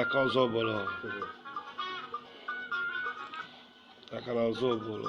aka ọzọ bụrụ aka na ọzọ bụrụ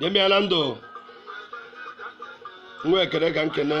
nye m ya na ndụ nwa ekene ka m kene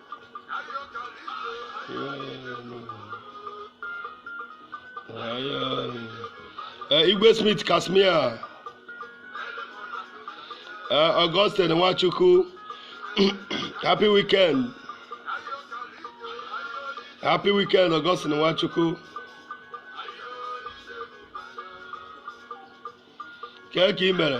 Eh, Igwe Smith Casmir eh, Augustine Nwachukwu happy weekend happy weekend Augustine Nwachukwu kee ka ị mere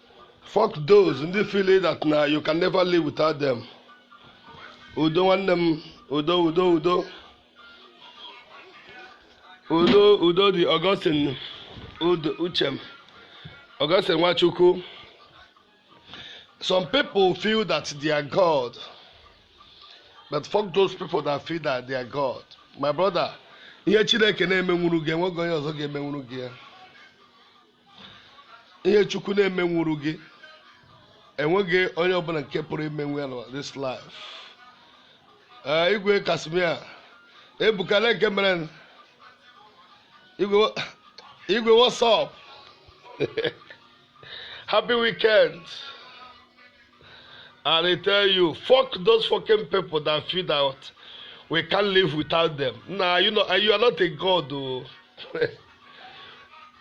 Fuck those ndị feel that na you can never live without them. Udo nwanne m udo udo udo udo udo dị Augustine udo uchem Augustine Nwachukwu. Some people feel that they are God, but fuck those people that feel that they are God. My brother, ihe Chineke na-emenwuru gị enweghị onye ọzọ ga-emenwuru gị ya. ihe chukwu na-emenwuru gị enweghị onye ọbụla nke pụrụ imenwu ya na this life ee igwe casmir ebuka na nke mere nụ. igwe igwe what's up happy weekend and i tell you fuck those fucking people that feel that we can't live without them nah you know you are not a god o.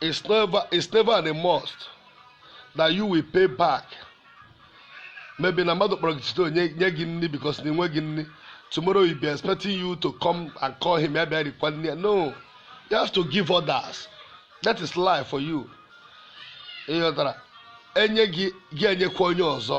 it's never it's never a must that you will pay back maybe na mmadụ kpọrọ gị site nye gị nri because na enweghị nri tomorrow he'll be expecting you to come and call him ya bịa rikwa nri no you have to give others that is life for you ịghọtara enye gị gị enyekwa onye ọzọ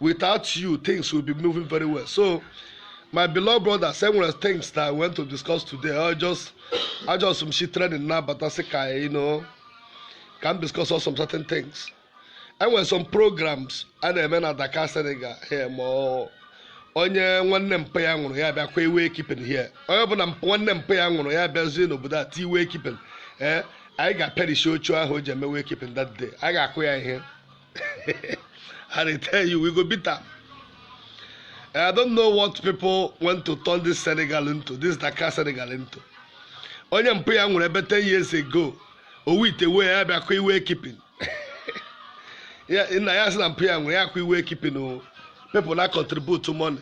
without you things will be moving very well so my beloved brothers enwere things that i want to discuss today i just i just m shi training now bata sị ka you know ka m discuss some certain things enwere some programs a na-eme na Dakar Senegal here ma onye nwanne mpa ya nwụrụ ya bịa kwa wake keeping here onye ọbụla nwanne mpa ya nwụrụ ya bịazie n'obodo a tie wake keeping ee eh, anyị ga-apịarishi oche ahụ o ji eme wake keeping that day a ga-akụ ya ihe I dey tell you, we go beat am. I don't know what people want to turn this Senegal into, this Dakar Senegal into. Onye mpa ya nwụrụ ebe 10 years ago, owu ite wee ya bịa kụ wake keeping. Ya- Nna ya sị na mpa ya nwụrụ ya kụ wake keeping o. People na contribute money.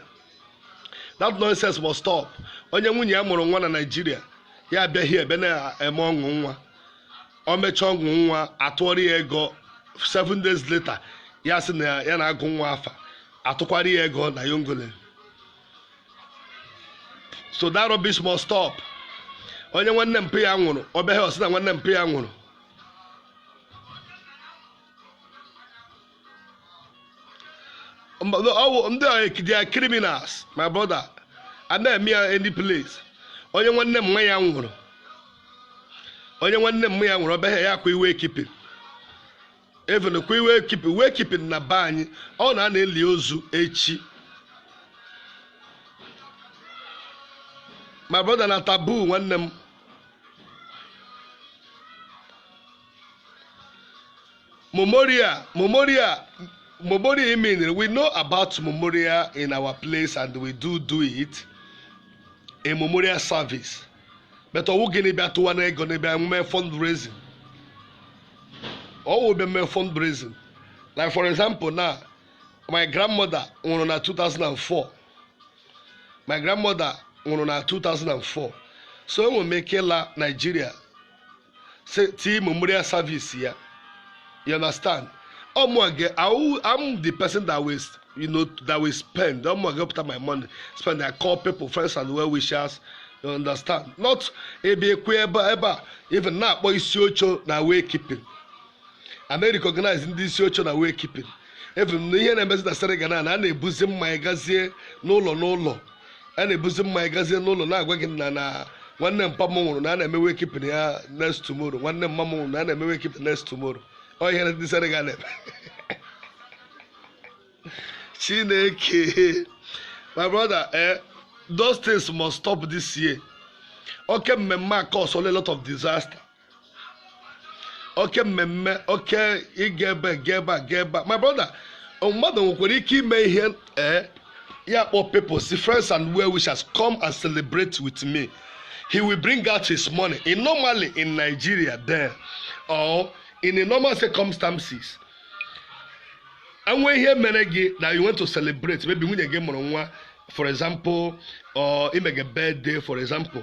That nonsense must stop. Onye nwunye ya mụrụ nwa na Nigeria, ya abịa here ebe na-eme ọṅụ nwa. o mechaa ọṅụ nwa atụọrọ ya ego 7 days later ya sị na ya na-agụ nwa afa atụkwara ya ego na yongole so that rubbish must stop onye nwanne mpa ya nwụrụ ọ bịa here ọ sị na nwanne mpa ya nwụrụ Mba, no, ọ bụ- ndị a they are criminals my brother a na-eme ya any place onye nwanne mma ya nwụrụ onye nwanne mma ya nwụrụ ọ bịa here akwa wake keeping even kwa wake keeping wake keeping na be anyị ọ na a na-eli ozu echi my brother na taboo nwanne m Memorial, memorial, memorial meaning we know about memorial in our place and we do it a memorial service. But ọwụghị na ị bịa tụwa na ego n'ebe anyị mee fundraising. Ọwụ bịa mee fundraising. Like for example now, my grandmother nwụrụ na 2004. My grandmother nwụrụ na 2004. So enwere m ike ịla Nigeria se- tii memorial service ya you understand ọmụa ga I will- I'm the person that will you know that will spend ọmụa ga pụta my money spend I call people friends and well wishers you understand not ebe ekwe ebe a- ebe a even na-akpọ isi oche na way keeping a na-recognize ndị isi oche na wake keeping even here na ihe na-emezi na Senegal na a na-ebuzi mmanya gazie n'ụlọ n'ụlọ a na-ebuzi mmanya gazie n'ụlọ na-agwa gị na na nwanne mpa m nwụrụ na a na-eme wake keeping ya next tomorrow nwanne mma m nwụrụ na a na-eme wake keeping next tomorrow ọ ihe ndị Senegal na-eme chineke my brother eh, those things must stop this year oke mmemme a cause a lot of disaster oke mmemme oke ịga ebe ga ebe a ga ebe a my brother mmadụ nwekwara ike ime ihe ee ya kpọ people sị friends and well wishers come and celebrate with me he will bring out his money in normally in nigeria there or in a normal circumstances e nwee ihe mere gị that you want to celebrate maybe nwunye gị mụrụ nwa for example or i mege birthday for example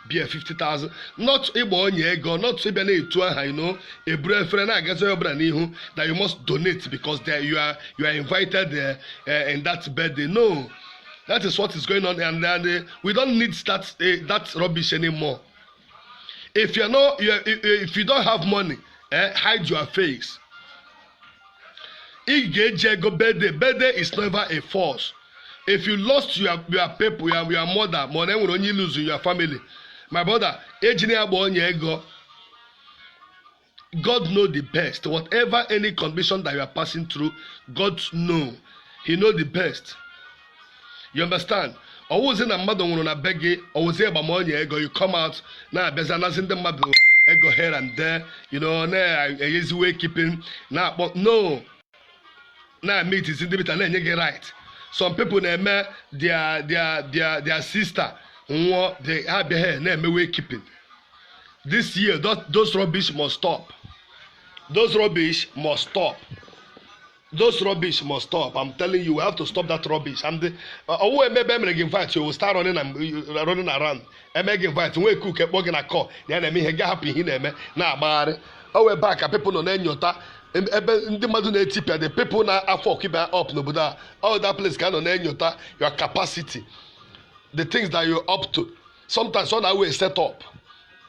bịa 50,000 not ịgba onye ego not ịbịa na-etu aha you know eburu efere na-agazi onye ọbụla n'ihu that you must donate because there you are you are invited there, uh, in that birthday no that is what is going on and, and uh, we don't need that uh, that rubbish anymore if you are not you are, if you don't have money eh, hide your face ị ga-eji ego bede bede is never a force if you lost your your people your your mother ma ọ na enwere onye iluzu your family my brother ejina ya gba onye ego God know the best. Whatever any condition that you are passing through, God know. He know the best. you understand ọ wụzi na mmadụ nwụrụ na be gị ọ wụzi ịgba ọnya ego you come out na-abịazi anazi ndị mmadụ ego here and there you know na-enyezi wake keeping na-akpọ no na-emitizi ndị bita na-enye gị right some people na-eme their their their their sister nwụọ ha abịa here na-eme wake keeping this year those rubbish must stop those rubbish must stop Those rubbish must stop. I'm telling you, we have to stop that rubbish. And the oh, maybe I'm invite you will start running and uh, running around. I'm making invite. We cook a bug in a car. The enemy he got happy in him. Now, but oh, we're back. People on any other. ebe ndị mmadụ na-etipịa the people na afọ ọkịba up n'obodo a all that place ka nọ na-enyota your capacity the things that you up to sometimes ọ na-awe set up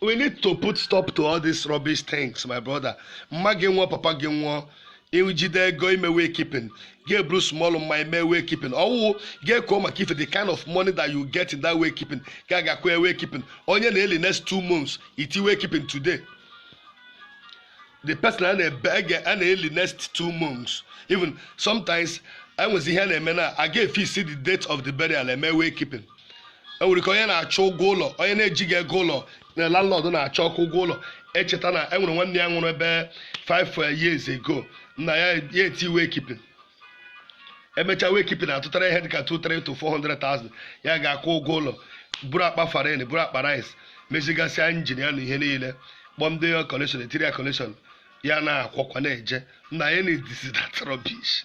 we need to put stop to all these rubbish things my brother mma gị nwụọ papa gị nwụọ i jide ego ime wake keeping ga-eburu small mma ime wake keeping ọwụwụ ga-eko maka ife the kind of money that you get in that wake keeping ga agakwa wake keeping onye a na-eli next two months i tie wake keeping today the person a na-eli next two months even sometimes enwezi ihe a na-eme na a ga-efix the date of the burial eme wake keeping e nwere ike onye na-achọ ụgwọ ụlọ onye na-ejighị ego ụlọ na landlord na-achọ okwu ụgwọ ụlọ echeta na e nwere nwanne ya nwụrụ ebe 5 years ago nna ya etie wake keeping emechaa wake keeping atụtara ihe dịka 200 to 400,000 ya ga-akwụ ụgwọ ụlọ buru akpa farine buru akpa rice mezigasịa engine ya na ihe niile kpọọ ndị connection etiri ya connection ya na-akwọkwa na-eje nna ya na-edisi that rubbish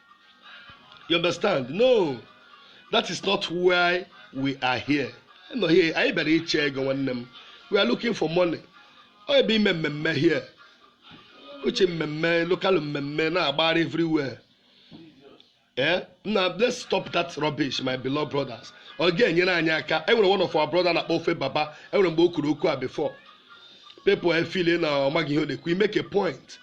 you understand no that is not why we are here nọ here anyị bịara ịchọ ego nwanne m we are looking for money ọ ebe ime mmemme here which mmemme local mmemme na-agbari everywhere eh na let's stop that rubbish my beloved brothers ọ ga-enyere anyị aka enwere one of our brother a na-akpọ ofe baba enwere mgbe o kwuru okwu a before people efeel na ọ maghị ihe ọ na-ekwu make a point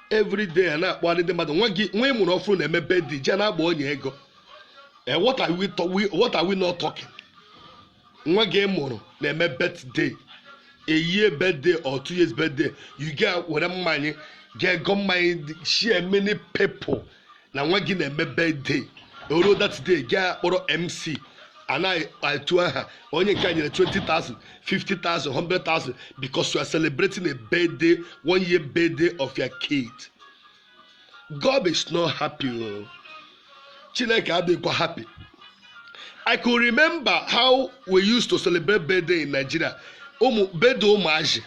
everyday a na-akpọgharị ndị mmadụ nwa gị nwa ị mụrụ ọfụrụ na-eme birthday ji na-agba ọnya ego Eh, what are we to- we- what are we not talking nwa gị ị mụrụ na-eme birthday a year birthday or two years birthday ị ga-ewere mmanya ga-ego mmanya share many people na nwa gị na-eme birthday o ruo that day gị akpọrọ MC a na-etu aha onye nke a nyere 20,000 50,000 100,000 because you are celebrating a birthday one year birthday of your kid God is not happy o Chineke adịghịkwa happy I could remember how we used to celebrate birthday in Nigeria birthday ụmụazị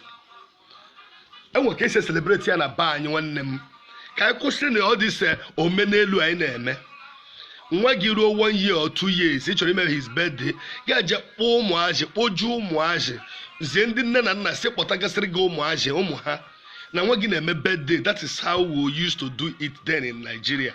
enwe ka esi celebrate ya na be anyị nwanne m ka anyị kwụsịnụ all these omenelu anyị na-eme nwa gị ruo one year or two years ị chọrọ ime his birthday ga je kpọọ ụmụazị kpojuo ụmụazị zie ndị nne na nna sị kpọtagasịrị gị ụmụazị ụmụ ha na nwa gị na-eme birthday that is how we used to do it then in Nigeria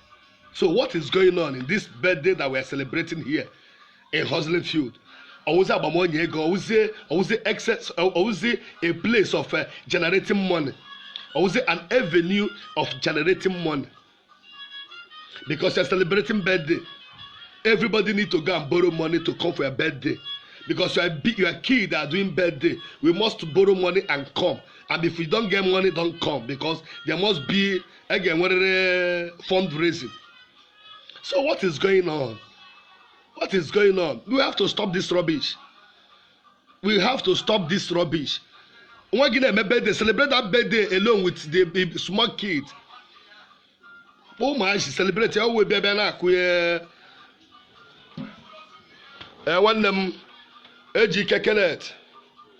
so what is going on in this birthday that we are celebrating here in hustling field ọwụzi agbamonye ego ọwụzie ọwụzie excess ọwụzie a place of uh, generating money ọwụzie an avenue of generating money because you are celebrating birthday everybody need to go and borrow money to come for your birthday because you are big you are kid that are doing birthday we must borrow money and come and if we don get money don come because there must be a ga-enwerịrị fundraising so what is going on what is going on we have to stop this rubbish we have to stop this rubbish nwa gị na-eme birthday celebrate that birthday alone with the the small kid ụmụazị celebrate ya wee bịa bịa na-akụ ya ee nwanne m ejike kenneth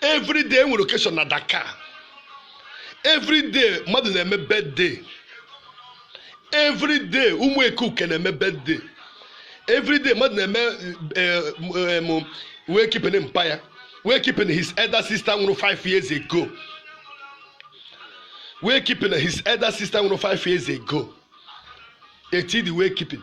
every day enwere occasion na Dakar every day mmadụ na-eme birthday every day ụmụ ekuke na-eme birthday every day mmadụ na-eme eh, eh, em, wake keeping mpa ya wake keeping his elder sister nwụrụ 5 years ago wake keeping his elder sister nwụrụ 5 years ago etidi wake keeping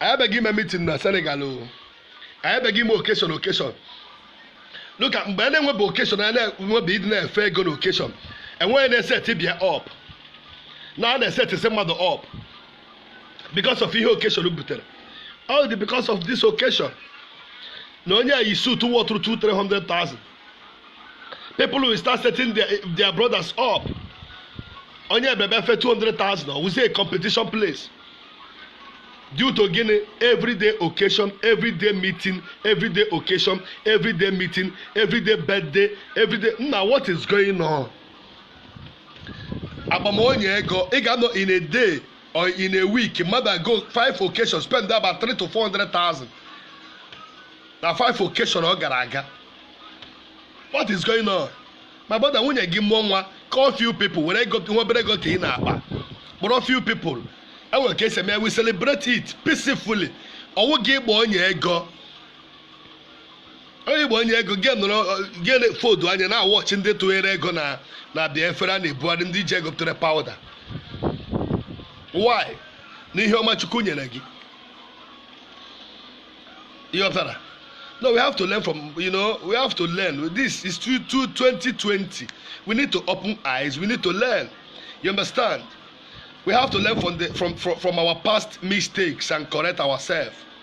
anyị abịaghị ime meeting na senegal o anyị abịaghị ime occasion occasion dịka mgbe a na-enwebe occasion a na-enwebe ndị na-efe ego na occasion enwee ndị na-eseti bịa up na a na-esetisi mmadụ up because of ihe occasion butere all the because of this occasion na onye a yi suit wọ through two three hundred thousand people will start setting their, their brothers up onye ebebe fe two hundred thousand ọ wụzie a competition place due to gịnị everyday occasion everyday meeting everyday occasion everyday meeting everyday birthday everyday nna what is going on agba m ọnya ego ị ga-anọ in a day or in a week mmadụ ago five occasion spend about 3 to 400,000 na five occasion ọ gara aga what is going on my brother nwunye gị mụọ nwa call few people were ego nwa obere ego ka ị na-akpa kpọrọ few people enwere ka esi eme we celebrate it peacefully ọ wụghị ịgba ọnya ego onye igbo ọnya ego gị nọrọ gị fodu anya na watch ndị tụnyere ego na na bịa efere a na-ebugharị ndị ji ego pụtara powder why na ihe ọma chukwu nyere gị ịghọtara no we have to learn from you know we have to learn this is to 2020 we need to open eyes we need to learn you understand we have to learn from the from from, from our past mistakes and correct ourselves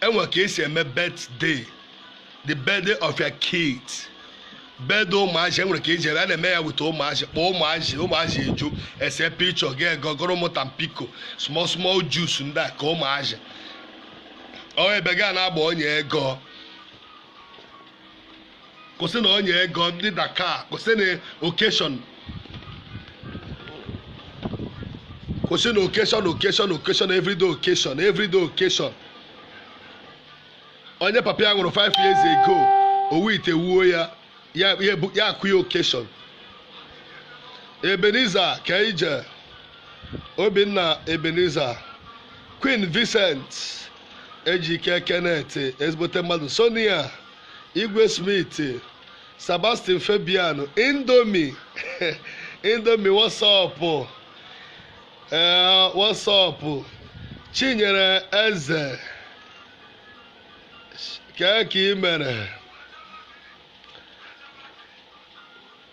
enwere ka esi eme birthday the birthday of your kid birthday ụmụazị enwere ka esi eme a na-eme ya with ụmụazị kpọọ ụmụazị ụmụazị eju ese picture ga-egogoro ụmụ tampico small small juice ndị a ka ụmụazị ọ wụghị ebe ga na-agba ọnya ego kwụsịnụ ọnya ego ndị dakar kwụsịnụ occasion kwụsịnụ occasion occasion occasion everyday occasion everyday occasion onye papa ya nwụrụ 5 years ago owu ite wuo ya ya ya ebu- ya akụ ya occasion ebenezer kee ije obinna ebenezer queen vincent ejike kenneth ezigbote mmadụ sonia Igwe Smith, Sebastian Fabiano, Indomie, Indomie what's up ee what's up Chinyere Eze kee ka ị mere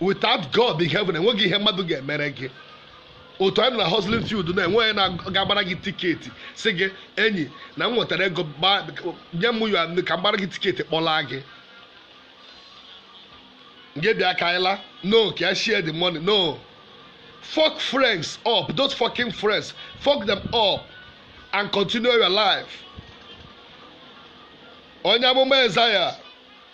without God in heaven enweghị ihe mmadụ ga-emere gị otu anyị nọ na hustling field na enweghị na-agbara gị tiketi sị gị enyi na m nwetara ego gba- nye m ya ka m gbara gị tiketi kpọlaa gị gị bịa ka anyị la no ka ya share the money no fuck friends up those fucking friends fuck them up and continue your life onye amụma Isaiah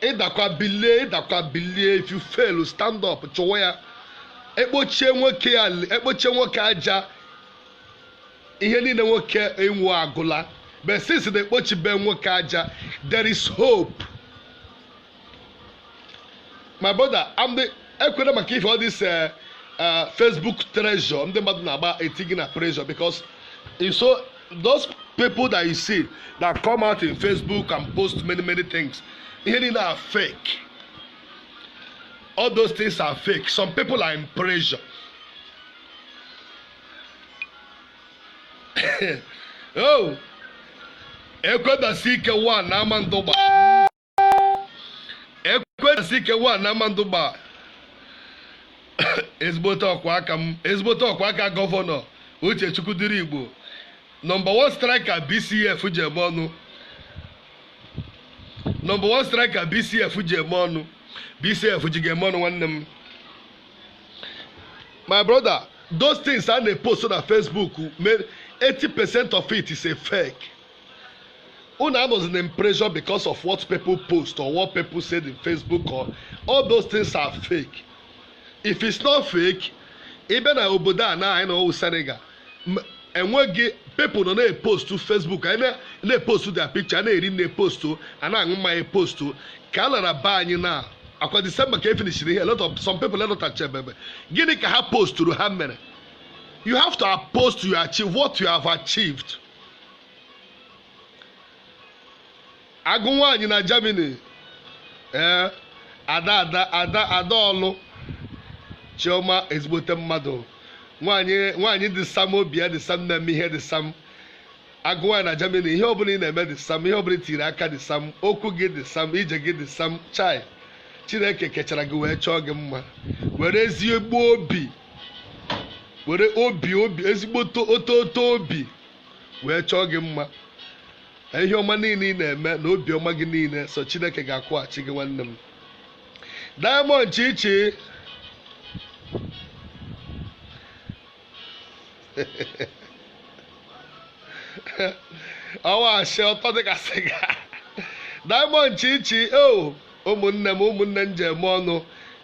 ị dakwa bilie ị dakwa bilie if you fail stand up chụwa ya ekpochie nwoke ya ekpochie nwoke aja ihe niile nwoke nwe agwụla but since na ekpochibe nwoke aja there is hope my brother I'm the ekwere maka ife all this eh, eh, facebook treasure ndị mmadụ na-agba eti gị na pressure because you saw those people that you see that come out in facebook and post many many things they are fake all those things are fake some people are in pressure oh Ekwedasike one na Amandugba Ekwedasike one na Amandugba ezigbote ọkwa aka m ezigbote ọkwa aka gọvanọ uchechukwu dịrị igbo nọmba 1 striker bcf ji eme ọnụ nọmba 1 striker bcf ji eme ọnụ bcf ji ga-eme ọnụ nwanne m my brother those things a na-epost na facebook mere 80% of it is a fake Unu anọzi na pressure because of what people post or what people said in Facebook or all those things are fake. If it's not fake, even na obodo a na anyị nọ wụ Senegal enweghị people nọ na-epostu Facebook anyị na-epostu their picture na-eri na-epostu a na-aṅụ mmanya epostu ka a lara be anyị now after December ka e finishiri ihe a lot of some people elọtacha ememe gịnị ka ha posturu ha mere you have to post your achieve what you have achieved. agụ nwaanyị na Germany ee ada ada ada ada ọlụ chioma ezigbote mmadụ nwaanyị nwaanyị dị sam obi ya dị sam na-eme ihe dị sam agụ nwaanyị na Germany ihe ọbụla ị na-eme dị sam ihe ọbụla i tiri aka dị sam okwu gị dị sam ije gị dị sam chai chineke kechara gị wee chọọ gị mma were ezigbo obi were obi obi ezigbo to- oto oto obi wee chọọ gị mma na ihe ọma niile ị na-eme na obi ọma gị niile sọ chineke ga-akwụghachi gị nwanne m diamond chichi ọwa asị ọtọ dịka sịga diamond chichi o ụmụnne m ụmụnne m ji eme ọnụ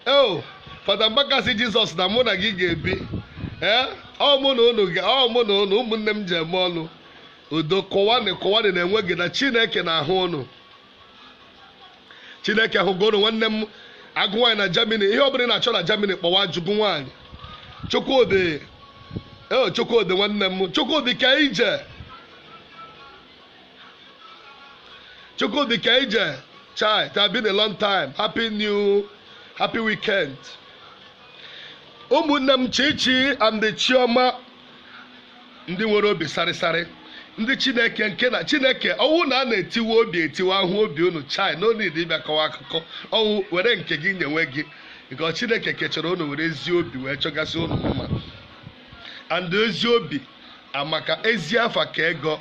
o fada mbaka sị jizọs na mụ na gị ga-ebi ee ọ mụ na unu ga ọ mụ na unu ụmụnne m ji eme ọnụ udo kụwanị kụwanị na-enweghị na chineke na-ahụ unu chineke hụgo unu nwanne m agụ nwaanyị na germany ihe ọbụla ị na-achọ na germany kpọwa jụọ agụ nwaanyị chukwudi ee chukwudi nwanne m chukwudi ka ije chukwudi ka ije chai it has been a long time happy new happy weekend ụmụnne m chichi and chioma ndị nwere obi sarịsarị ndị chineke nke na chineke ọ wụ na a na-etiwe obi etiwe a hụ obi unu chai no need ịbịa kọwa akụkọ ọ wụ were nke gị nyewe gị nke chineke kechara unu were ezi obi wee chọgasị unu mma and ezi obi amaka ezi afa ka ego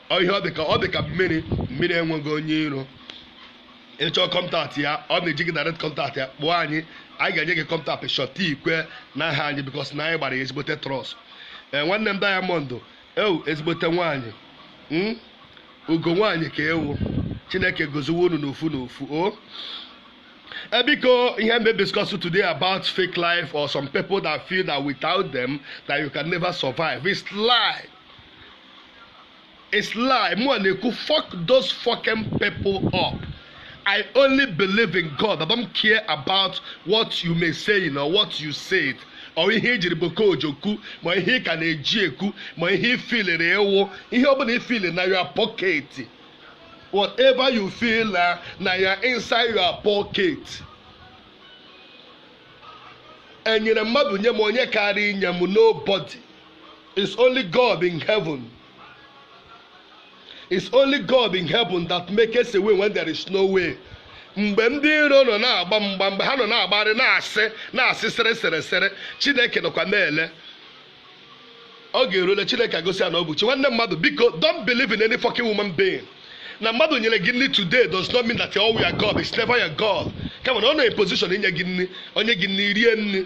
ọ ihe ọ dị ka ọ dị ka mmiri mmiri enweghị onye iro ị chọọ contact ya ọ na i jighị direct contact ya kpọọ anyị anyị ga-enye gị contact shọta ikwe n'aha anyị because na anyị gbara ya ezigbote trust ee nwanne m diamond ị wụ ezigbote nwaanyị m ugo nwaanyị ka ị wụ chineke goziwe unu n'ofu n'ofu o Eh, biko ihe m ga-discuss today about fake life or some people that feel that without them that you can never survive it's lie It's lie. Mụ na-ekwu fuck those fucking people up. I only believe in God. I don't care about what you may say or what you said. or ihe i jiri boko ọjọọ kwuo ma ihe ị ka na-eji ekwu ma ihe ị feeliri ị wụ ihe ọ bụla ị feel na your pocket whatever you feel na na ya inside your pocket enyere mmadụ nye m onye karịa inye m nobody It's only God in heaven. It's only God in heaven that makes a way when there is no way. mgbe ndị iro nọ na-agba mgba mgbe ha nọ na-agbarị na-asị na-asị sere sere sere chineke nọkwa na-ele ọ ga-erule chineke egosi ya na ọ bụ chi nwanne mmadụ biko don't believe in any fucking human being na mmadụ nyere gị nri today does not mean that ọ wụ your God is never your God kama na ọ nọ in position inye gị nri ọ nye gị nri rie nri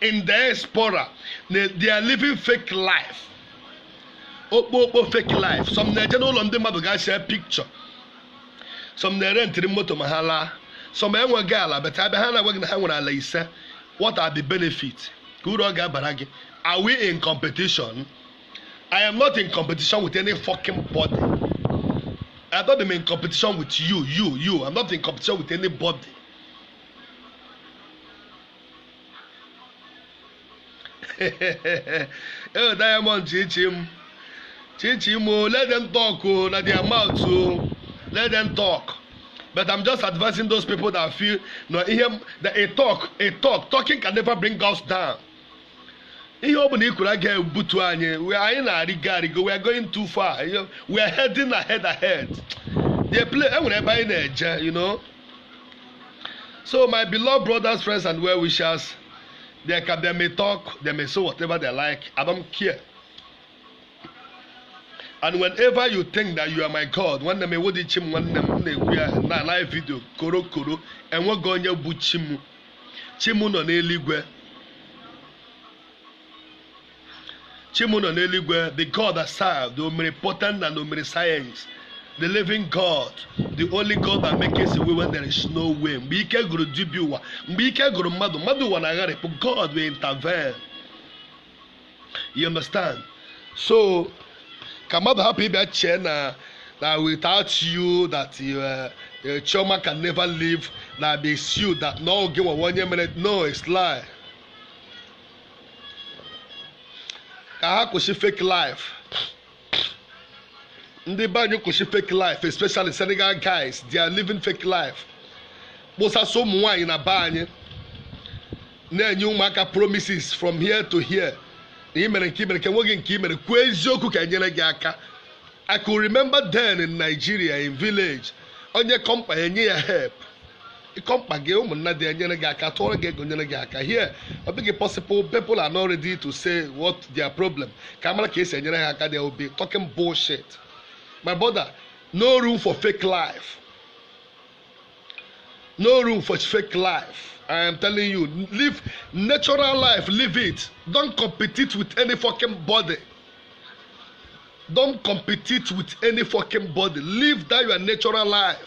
in diaspora na they are living fake life okpokpo fake life some na-eje n'ụlọ ndị mmadụ ga see picture some na-erentiri moto ma ha laa some enweghị ala but a bịa ha na-agwa gị na ha nwere ala ise what are the benefit kee uru ọ ga-abara gị are we in competition i am not in competition with any fucking body i don't am in competition with you you you i'm not in competition with anybody ee diamond chichi m chichi m o let them talk o na their mouth o let them talk but i'm just advising those people that feel na ihe m- that a talk a talk talking can never bring us down ihe ọ bụla i kwuru agaghị ebutu anyị we anyị na-arịgo arịgo we are going too far you know, we are heading ahead ahead dey play enwere ebe anyị na-eje you know So, my beloved brothers, friends, and well wishers, they, can, they may talk, they may say whatever they like. I don't care. and whenever you think that you are my god nwanne m ị wụghị chi m nwanne m na-ekwu ya na live video koro koro enweghị onye bụ chi m chi m nọ n'eluigwe Chi mụ nọ n'eluigwe, the God that I serve, the omnipotent and omniscience, the living God, the only God that makes a way when there is no way. Mgbe ike gụrụ dibịa ụwa, mgbe ike gụrụ mmadụ, mmadụ ụwa na-agharị, but God will intervene. You understand? So, ka mmadụ hapụ ịbịa chee na na without you that you, uh, uh, Chioma can never live, na be you that na ọ gị nwa onye mere no it's lie. ka ha kwụsị fake life ndị be anyị kwụsị fake life especially Senegal guys they are living fake life kposasịa ụmụ nwaanyị na be anyị na-enye ụmụaka promises from here to here na imere nke imere ka enweghị nke imere kwuo eziokwu ka enyere gị aka I could remember then in Nigeria in village onye kọọ mkpa ya enye ya help ị kọọ mkpa gị ụmụnna gị enyere gị aka tụọrọ gị ego nyere gị aka here ọ dịghị possible people are not ready to say what their problem ka a mara ka esi enyere ha aka they will be talking bullshit my brother no room for fake life no room for fake life i am telling you live natural life live it don't compete with any fucking body don't compete with any fucking body live that your natural life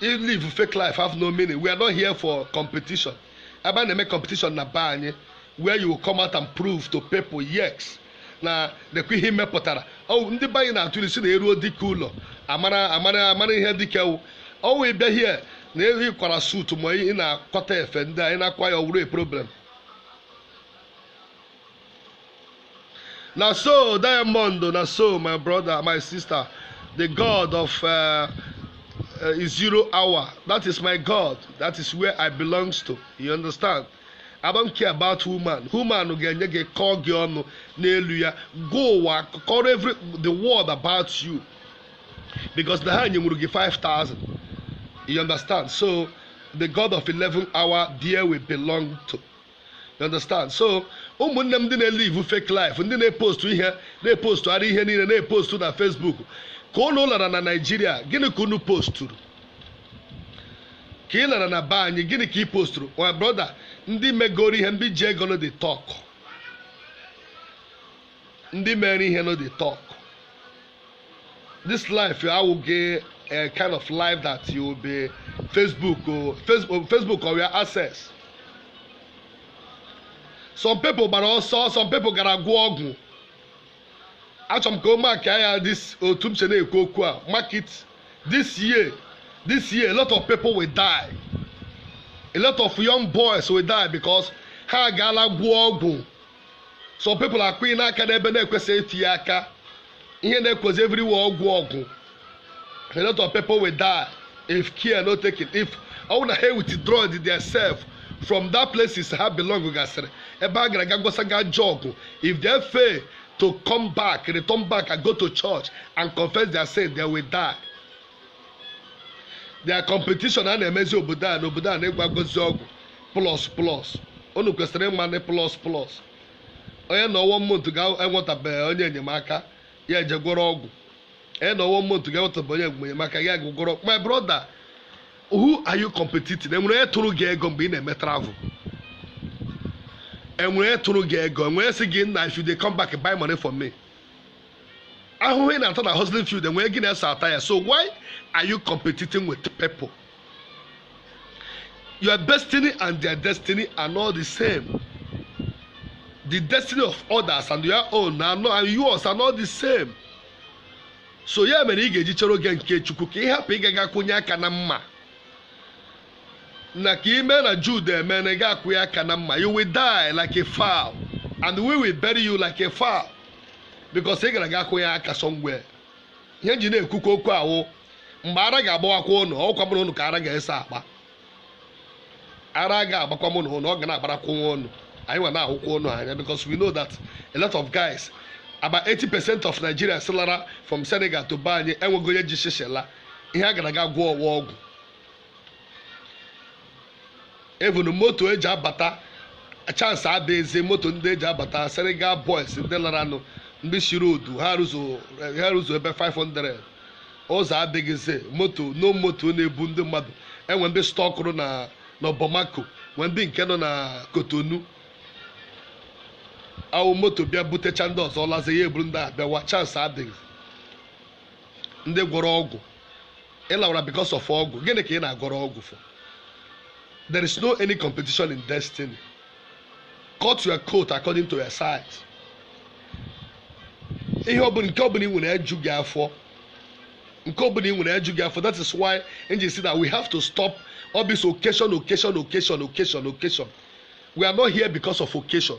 If live fake life have no meaning. We are not here for competition. Ebe a na-eme competition na be anyị where you will come out and prove to people yes na nekwa ihe m mepụtara ọ wụ ndị be anyị na-atụ ilu sị na e ruo dike ụlọ amara amara amara ihe dike wụ ọ wụ ịbịa here na-eyi kwara suit ma ị na-akwata efe ndị a ị na-akwa ya ọ wụrụ a problem na so diamond na so my brother my sister the god of uh, uh, zero hour that is my god that is where i belongs to you understand i don't care about woman woman ga-enye gị kọọ gị ọnụ n'elu ya gwa ụwa kọrọ every the world about you because na ha nyenwuru gị 5000 you understand so the god of 11 hour there we belong to You understand? So ụmụnne m ndị na-elive fake life ndị na-epostu ihe na-epostugharị ihe niile na-epostu na Facebook ka unu lara na Nigeria gịnị ka unu posturu ka ị lara na be anyị gịnị ka ị posturu my brother ndị megoro ihe ndị ji ego no dey talk ndị mere ihe no dey talk this life awụghị a kind of life that you will be facebook o facebook facebook or your access some people gbara ọsọ some people gara gwọọ ọgwụ achọrọ m ka unu mark ya this otu m che na-ekwu okwu a mark it this year this year a lot of people will die a lot of young boys will die because ha agaala gwọọ ọgwụ some people akwụnyena aka n'ebe na-ekwesịghị itinye aka ihe na-ekozi everywhere ọgwụ ọgwụ a lot of people will die if care no taken if ọ bụrụ na ha withdraw their self from that places ha belong gasịrị ebe ha gara ga gwọsa ga ajọ ọgwụ if they fail to come back return back and go to church and confess their sin they will die their competition a na-emezi obodo a na obodo a na-agwọgazi ọgwụ plus plus unu kwesịrị ịma na plus plus onye nọọ one month ga-enwetabeghị onye enyemaka ya eje gwọrọ ọgwụ onye nọọ one month ga-enwetabeghị onye enyemaka ya gwọrọ my brother who are you competing enwere onye tụrụ gị ego mgbe ị na-eme travel enwere onye tụrụ gị ego enwere sị gị na if you dey come back buy money for me ahụhụ ị na-ata na hustling field enweghị onye so ata ya so why are you competing with people your destiny and their destiny are not the same the destiny of others and your own are not, and yours are not the same so ya mere ị ga-eji chere oge nke chukwu ka ị hapụ ịgaga kwụnye aka na mma na ka ime na Jude eme na ị ga-akwụnye aka na mma you will die like a fowl and we will bury you like a fowl because ị gara ga kwụnye aka somewhere ihe m ji na-ekwukwa okwu a wụ mgbe ara ga-agbawakwa ụnụ ọkwa mụ na ụnụ ka ara ga-ese akpa ara ga-agbakwa mụ na ụnụ ọ ga na-agbarakwa nwa ụnụ anyị nwa na-ahụkwa ụnụ anya because we know that a lot of guys about 80 percent of Nigerians lara from Senegal to be anyị enweghị onye ji shishi ala ihe a gara ga gwọọ ọgwụ ọgwụ even moto eji abata chance adịghịzi moto ndị eji abata Senegal boys ndị laranụ ndị shiri odu ha ruzuo ebe 500 ụzọ adịghịzi moto no moto na-ebu ndị mmadụ e nwee ndị stọkụrụ na Bamako nwee ndị nke nọ na Cotonou ọ wụ moto bịa butecha ndị ọzọ lazi ya eburu ndị a bịawa chance adịghị ndị gwọrọ ọgwụ ị lawara because of ọgwụ gịnị ka ị na-agwọrọ ọgwụ for there is no any competition in destiny cut your coat according to your size ihe ọbụla nke ọbụla ị nwere eju gị afọ nke ọbụla ị nwere eju gị afọ that is why m ji sị that we have to stop all this occasion occasion occasion occasion occasion we are not here because of occasion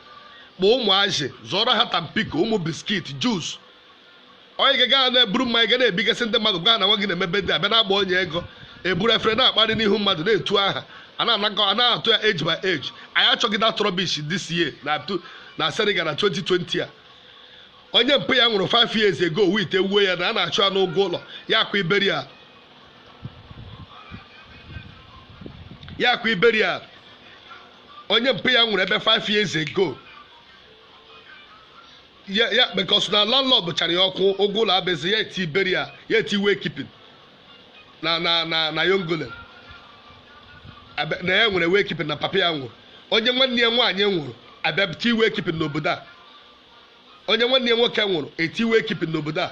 kpọọ ụmụazị zụọrọ ha Tampico ụmụ biscuit juice onye ga gaa na-eburu mmanya ga na-ebigasị ndị mmadụ gaa na nwa gị na-eme birthday abịa na-agba onye ego eburu efere na-akparị n'ihu mmadụ na-etu aha a na-anakọ a na-atụ ya age by age anyị achọghị that rubbish this year na tu- na Senegal na 2020 a onye mpa ya nwụrụ 5 years ago wit ewuo ya na a na-achụ ya n'ụgwọ ụlọ ya akwa burial ya akwa burial onye mpa ya nwụrụ ebe 5 years ago ya ya because na landlord chara ya ọkụ ụgwọ ụlọ abezi ya eti burial ya eti wake keeping na na na na yongole Abe- na ya nwere wake keeping na papa ya nwụrụ onye nwanne ya nwaanyị nwụrụ a bịa ti wake keeping n'obodo a onye nwanne ya nwoke nwụrụ e ti wake keeping n'obodo a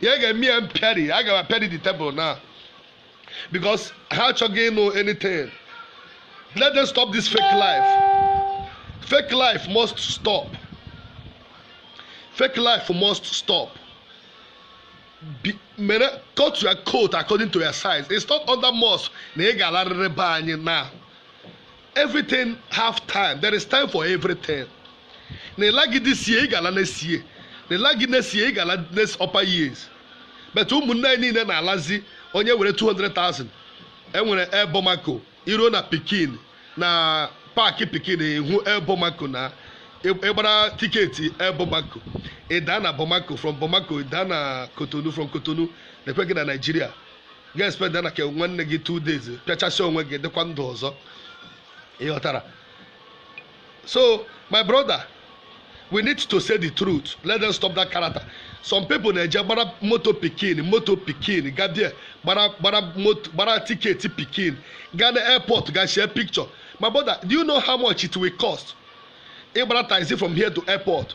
ya ga-eme ya m pịarị a ga-apịarị the table na because ha achọghị ịnụ anything let them stop this fake life fake life must stop fake life must stop be, mere cut your coat according to your size it's not under must na ị ga-alarịrị be anyị na everything have time there is time for everything na ị laghị this year ị ga-ala next year na ị laghị next year ị ga-ala next upper years but ụmụnne anyị niile na-alazi onye nwere 200,000 enwere Air Bamako i ruo na Pikine na park Pikine ị hụ Air Bamako na ị gbara ticket Air Bamako ị daa na Bamako from Bamako ị daa na Cotonou from Cotonou nekwe gị na Nigeria gị spend na ke nwanne gị two days pịachasị onwe gị dịkwa ndụ ọzọ ị ghọtara so my brother we need to say the truth let them stop that character some people na-eje gbara moto Pikine moto Pikine ga there gbara gbara moto gbara ticket Pikine ga na airport ga share picture my brother do you know how much it will cost ịgbara taxi from here to airport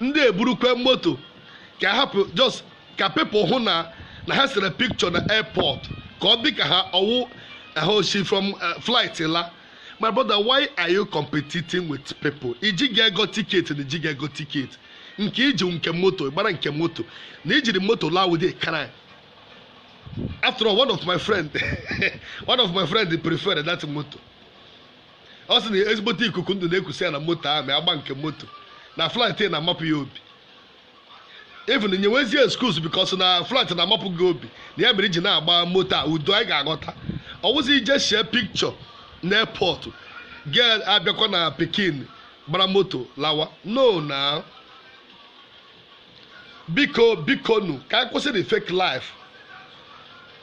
ndị eburukwe moto ka hapụ just ka people hụ na na ha sere picture na airport ka ọ dị ka ha ọ wụ ha si from eh, flight la my brother why are you competing with people i jighị ego ticket na i jighị ego ticket nke i ji nke moto gbara nke moto na i jiri moto laa wụ a crime after all one of my friend one of my friend preferred that moto ọ sị na ezigbote ikuku ndụ na-ekusi ya na moto ahụ ma agba nke moto na flight na-amapụ ya obi even nyewezie excuse because na flight na-amapụ gị obi na ya mere i ji na-agba moto a udo anyị ga-aghọta ọ wụzi ije shie picture na airport gị abịakwa na Pikine gbara moto lawa no na biko biko nu ka anyị kwụsị the fake life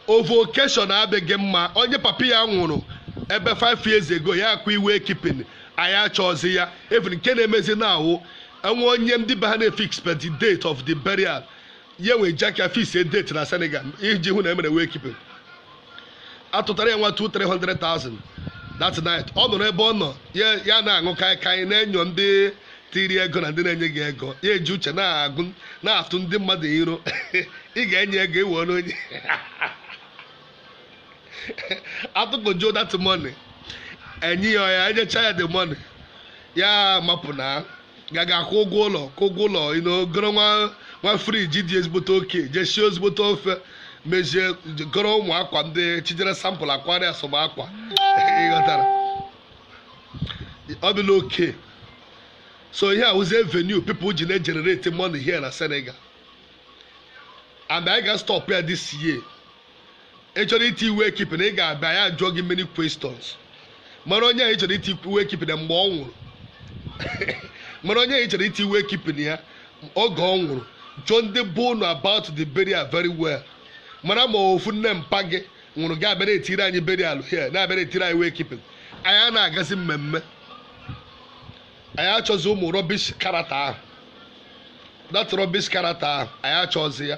over occasion adịghị mma onye papa ya nwụrụ ebe 5 years ago ya akwa wake keeping anyị achọzi ya even nke na-emezi na-awụ e nwee onye ndị be ha na-efixbe the date of the burial ya nwee jaka fix a date na Senegal iji hụ na e mere wake keeping a tụtara ya nwa 200,000 300,000 that night ọ nọrọ ebe ọ nọ ya ya na-aṅụ kaikai na-enyo ndị tiri ego na ndị na-enyeghị ego ya eji uche na-agụ na-atụ ndị mmadụ iro ị ga-enye ego iwe ọrụ onye atụkọjuo that money enye ya ya enyecha ya the money ya mapụ na gaga akwụ ụgwọ ụlọ kwụ ụgwọ ụlọ you know, goro nwa nwa fridge dị ezigbote okay je sie ezigbote ofe mezie goro ụmụ akwa ndị chijere sample akwari asọm akwa ị ghọtara ọ dịla okay so ihe a wụzie venue people ji na-egenerate money here na Senegal and anyị ga-astop ya this year ị chọrọ iti wake keeping anyị ga-abịa ya jụọ gị many questions mara onye a ị chọrọ iti wake keeping mgbe ọ nwụrụ mara onye a ị chọrọ iti wake keeping ya oge ọ nwụrụ jụọ ndị be unu about the burial very well mara ma ọ wụ nne mpa gị nwụrụ gị abịa na-etiri anyị burial here na-abịa na-etiri anyị wake keeping anyị a na-agazi mmemme anyị achọzi ụmụ rubbish character ahụ that rubbish character ahụ anyị achọzi ya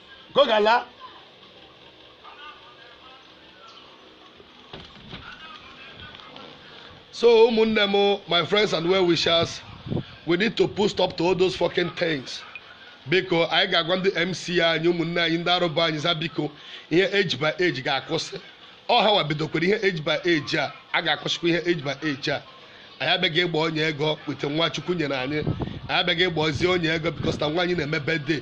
ka ọ ga-ala so ụmụnne m my friends and well wishers we need to put stop to all those fucking things biko anyị ga-agwa ndị MC anyị ụmụnne anyị ndị organizer biko ihe age by age ga-akwụsị ọ hanwa bidokwara ihe age by age a a ga-akwụsịkwa ihe age by age a anyị abịaghị ịgba ọnya ego with nwa Chukwu nyere anyị anyị abịaghị ịgbazi ọnya ego because na nwa anyị na-eme birthday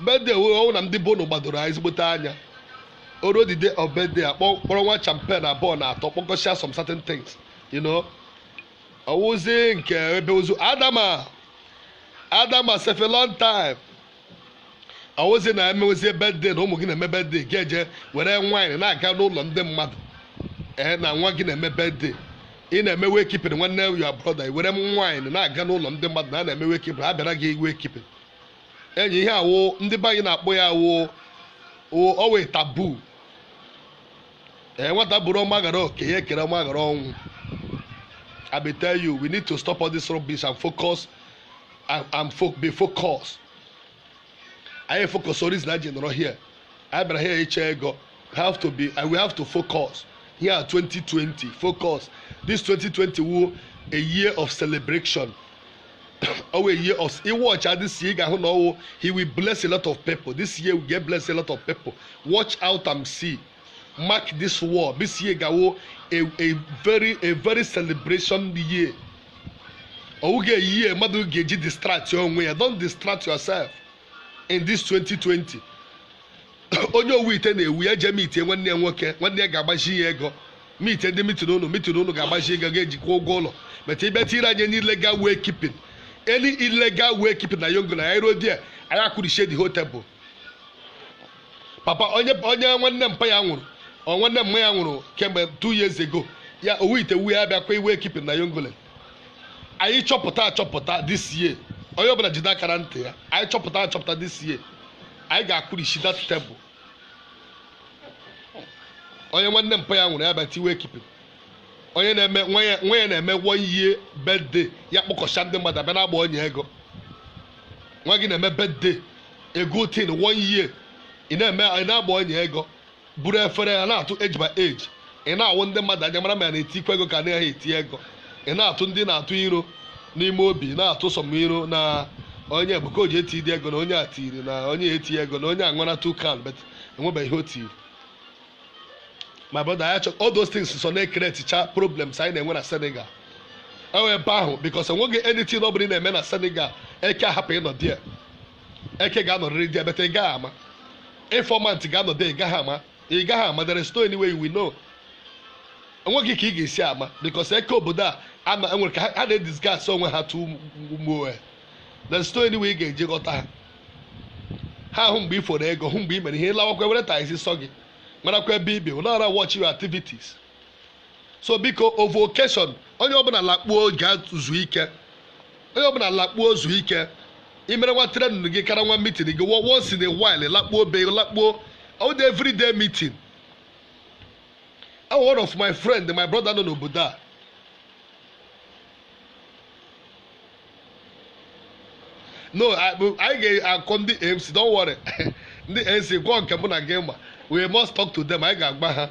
birthday wee ọ wụ na ndị bono gbadoro anyị ezigbote anya o ruo the day of birthday a kpọ kpọrọ nwa champagne abụọ na atọ kpọkọsịa some certain things you know ọ wụzi nke ebe ozu adama adama sef a long time ọ wụzi na e mewezie birthday na ụmụ gị na-eme birthday gị eje were wine na-aga n'ụlọ ndị mmadụ ee na nwa gị na-eme birthday ị na-eme wake keeping nwanne ya brother i were wine na-aga n'ụlọ ndị mmadụ na a na-eme wake keeping ha bịara gị wake keeping enyi ihe a wụ ndị be anyị na-akpọ ya arụ ọ wụ taboo ee nwata bụrụ ọma ghara oke ya ekere ọma ghara ọnwụ I be tell you we need to stop all this rubbish and focus and, and fo be focused anyị focus on reason anyị nọrọ here anyị bịara here ịchọ ego have to be and we have to focus here 2020 focus this 2020 wụ a year of celebration ọ wụ a year of ị watchịa this year ị ga-ahụ na ọ wụ he will bless a lot of people this year we get bless a lot of people watch out and see mark this word this year ga-awụ a a very a very celebration year ọ wụghị a year mmadụ ga-eji distract onwe ya don't distract yourself in this 2020 onye owu ite na-ewu ya jee meetie nwanne ya nwoke nwanne ya ga-agbazi ya ego meetie ndị meeting unu meeting unu ga-agbazi ego ga-eji kwụọ ụgwọ ụlọ but ị bịa tinyere anyị ndị illegal wake keeping any illegal wake keeping na Yengoulene anyị ruo there anyị akụrichie the whole table papa onye onye nwanne mpa ya nwụrụ or nwanne mma ya nwụrụ kemgbe two years ago ya owu ite wuo ya bịakwa wake keeping na Yengoulene anyị chọpụta achọpụta this year onye ọbụla jide aka na ntị ya anyị chọpụta achọpụta this year anyị ga-akụrichi that table onye nwanne mpa ya nwụrụ ya bịa tie wake keeping onye na-eme nwa ya nwa ya na-eme one year birthday ya kpọkọcha ndị mmadụ abịa na-agba ọnya ego nwa gị na-eme birthday a good thing one year ị na-eme ị na-agba ọnya ego buru efere ya na-atụ age by age ị na-awụ ndị mmadụ anya mara ma ya na-etikwa ego ka anaghị eti ego ị na-atụ ndị na-atụ iro n'ime obi na-atụ some iro na onye ebuka oji eti dị ego na onye a tiri na onye eti ego na onye a ṅụrụ two can but enwebeghị ihe o tiri my brother I chọ all those things so na-ecreatecha problems anyị na-enwe na Senegal enwe ebe ahụ because enweghị anything ọ bụla ị na-eme na Senegal eke ahapụ ịnọ there eke ga-anọrịrị dị ebeta ị gaghị ama informant ga-anọdụ ị gaghị ama ị gaghị ama there is no any way we know enweghị ka ị ga-esi ama because eke obodo a ama enwere ka ha ha na-edisguise onwe ha tu mgbe there is no any way ị ga-eji ghọta ha ha ahụ mgbe ị foro ego hụ mgbe ị mere ihe ịlawakwa were taxi sọ gị marakwa ebe ibe ụlọọra watch your activities so biko ovu occasion onye ọbụla lakpuo gaa zuo ike onye ọbụla lakpuo zuo ike imere nwa training gị kara nwa meeting gị wọ once in a while lakpuo be lakpuo all the everyday meeting one of my friend my brother nọ n'obodo a no anyị ga-akọ ndị MC don't worry ndị MC gwọ nke mụ na gị ma we must talk to them anyị ga-agwa ha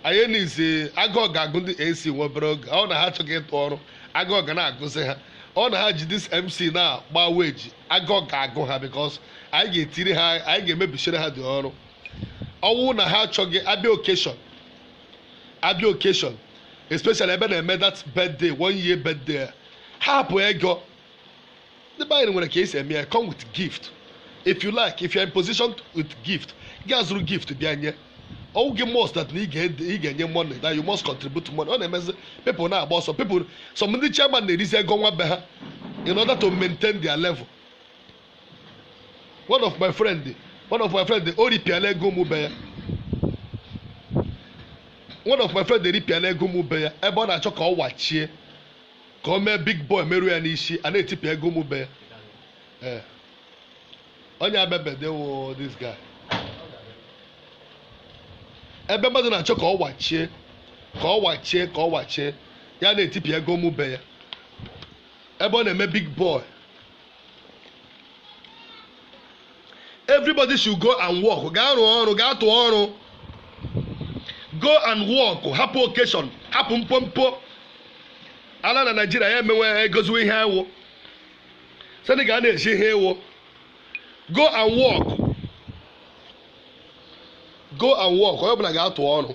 anyị nizi agụụ ga-agụ ndị MC nwa obere oge ọ na ha achọghị ịtụ ọrụ agụụ ga na-agụzi ha ọ na ha ji this MC na-agba weji agụụ ga-agụ ha because anyị ga-etiri ha anyị ga-emebisiri ha dị ọrụ ọ wụ na ha achọghị abịa occasion abịa occasion especially ebe na-eme that birthday one year birthday a, ha hapụ ego ndị be anyị nwere ka esi eme ya come with gift if you like if you are in position with gift gaa zụrụ gift bịa nye ọ wụghị must that na ị ga- ị ga-enye money that you must contribute money ọ na-emezi people na-agba ọsọ people some ndị chairman na-erizi ego nwa be ha in order to maintain their level one of my friend one of my friend o ripịala ego m be ya one of my friend eripịala ego m be ya ebe ọ na-achọ ka ọ wachie ka o mee big boy meruo ya n'isi a na-etipịa ego m be ya ee onye abebedewo this guy ebe mmadụ na-achọ ka ọ wachie ka ọ wachie ka ọ wachie ya na-etipịa ego m be ya ebe ọ na-eme big boy everybody should go and work gaa rụọ ọrụ gaa tụọ ọrụ go and work hapụ occasion hapụ mpompo ala na Nigeria ya emewe egoziwe ihe ewu Senegal a na-eji ihe ewu go and work go and work onye ọbụla gaa tụọ ọrụ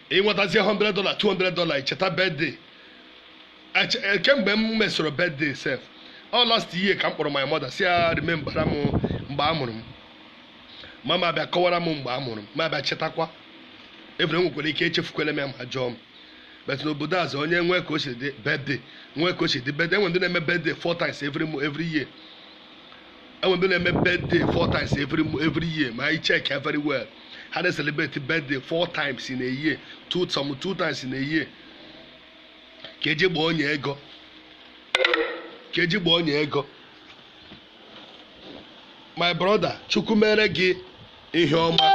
ịnwetazie 100 dollar 200 dollar icheta birthday Eche- eh, kemgbe m mesoro birthday sef ọ last year ka m kpọrọ my mother sị ya remembara m mgbe a mụrụ m mama m abịa kọwara m mgbe a mụrụ m mụ abịa chetakwa ebere m nwekwara ike echefukwele m ya ma a jụọ m but n'obodo azụ onye nwee ka o si dị birthday nwee ka o si dị birthday enwe ndị na-eme birthday four times every mo- every year enwe ndị na-eme birthday four times every every year ma anyị check ya very well ha na-celebrate birthday four times in a year two some two times in a year ka eji gbaa onye ego ka eji gbaa onye ego my brother chukwu mere gị ihe ọma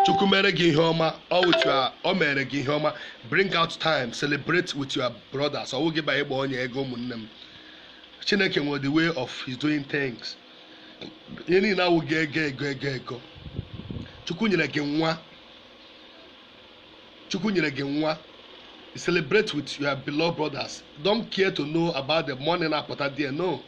chukwu mere gị ihe ọma ọ with your ọ mere gị ihe ọma bring out time celebrate with your brothers ọ wụghị banye gbaa onye ego ụmụnne m chineke nwere the way of his doing things ihe niile awụghị ego ego ego ego chukwu nyere gị nwa chukwu nyere gị nwa celebrate with your beloved brothers don't care to know about the money na-apụta there no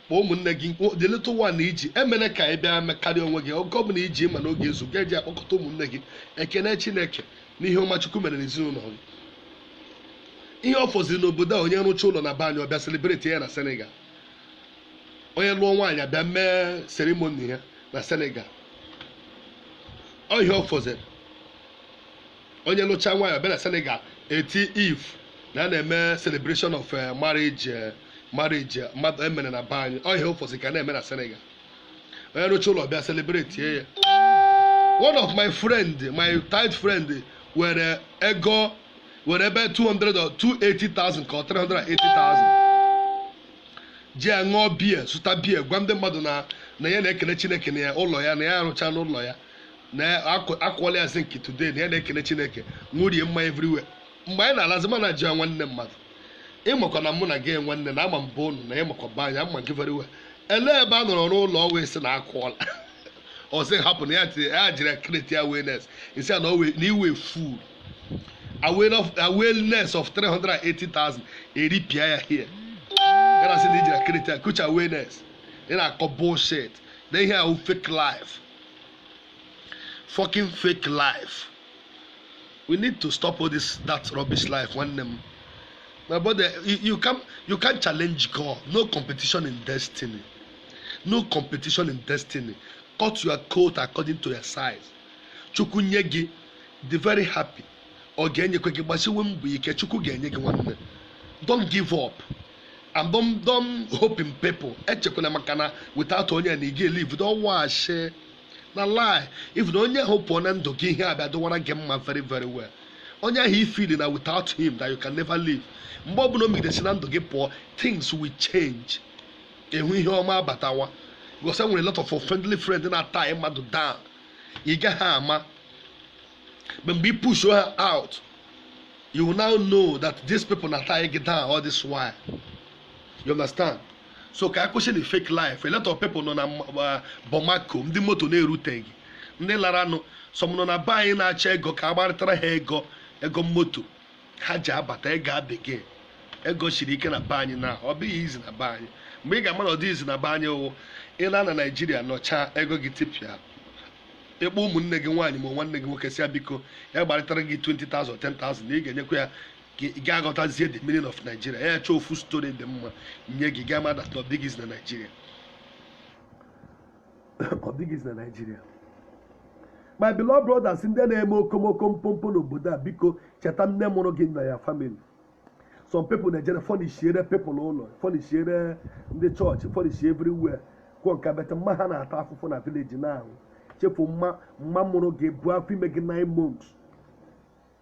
kpọọ ụmụnne gị kpọọ the little one i ji emene ka ị bịa mekarịa onwe gị oge ọbụla i ji ma na ọ ga-ezu gị eji akpọkọta ụmụnne gị ekene chineke n'ihe ọma Chukwu mere n'ezinụlọ ọ wụ ihe ọ fọziri n'obodo a onye rụcha ụlọ na be anyị ọ bịa celebrate ya na Senegal onye lụọ nwaanyị abịa mee ceremony ya na Senegal ọ ihe ọ fọziri onye lụcha nwaanyị ọ bịa na Senegal eti IV na a na-eme celebration of eh, marriage eh, marriage eh, mmadụ emere na be anyị ọ ihe ọ fọziri ka a na-eme na Senegal onye rụcha ụlọ bịa celebrate ya one of my friend my tight friend were ego were ebe 200 or 280,000 ka ọ 380,000 ji ya ṅụọ biya zụta biya gwa ndị mmadụ na na ya na-ekele chineke na ya ụlọ ya na ya arụchana ụlọ ya na akụọla ya zinc today na ya na-ekele chineke ṅụrie mma everywhere mgbe anyị na-alazi m ana-ajụ ya nwanne mmadụ ịmakwa na mụ na gị nwanne na ama m be unu na ịmakwa be anyị ama m gị very well ele ebe a nọrọ rụọ ụlọ ọwa ị sị na akụọla ọsị hapụ na ya tinye ya jiri create awareness isi ya na owe na iwe full awareness of 380,000 eripịa ya here gara sị na i jiri create a kucha awareness ị na-akọ bullshit na ihe a wụ fake life fucking fake life we need to stop all this that rubbish life nwanne m my brother you, you can you can't challenge God no competition in destiny no competition in destiny cut your coat according to your size chukwu nye gị dị very happy ọ ga-enyekwa gị gbasiwe mbọ ike chukwu ga-enye gị nwanne don't give up and don't, don't hope in people echekwala maka na without onye na ị ga-elive don't wash na lie even onye ahụ pụọ na ndụ gị ihe abịa dịwara gị mma very very well onye ahụ ị feel na without him that you can never live mgbe ọbụla o megide si na ndụ gị pụọ things will change ị hụ ihe ọma abatawa because enwere lot of friendly friend na-atie mmadụ down ị gaghị ama but mgbe ị push ha out you will now know that these people na-atie gị down all this while you understand so ka akwụsị na fake life a lot of people nọ na uh, Bamako ndị moto na-eruteghị ndị laranụ some nọ na be anyị na-achọ ego ka agbarịtara ha ego ego moto ha ji abata ego abeg ego siri ike na be anyị na ọ bụghị easy na be anyị mgbe ị ga-ama na ọ dị easy na be anyị wụ ị la na Nigeria nọchaa ego gị tipịa ị kpọọ ụmụnne gị nwaanyị ma nwanne gị nwoke sị ya biko ya gbarịtara gị 20,000 10,000 na ị ga-enyekwa ya ka ị ga-aghọtazie the meaning of Nigeria ya chọọ ofu story dị mma nye gị ga-ama that na ọ dịghị easy na Nigeria ọ dịghị easy na Nigeria my beloved brothers ndị na-eme okomoko mpompo n'obodo a biko cheta nne mụrụ gị na your family some people na-ejere furnishiere people ụlọ furnishiere ndị chọọchị furnish everywhere kwuo nka but mma ha na-ata afụfụ na village na-ahụ chefu mma mma mụrụ gị bu afọ ime gị nine months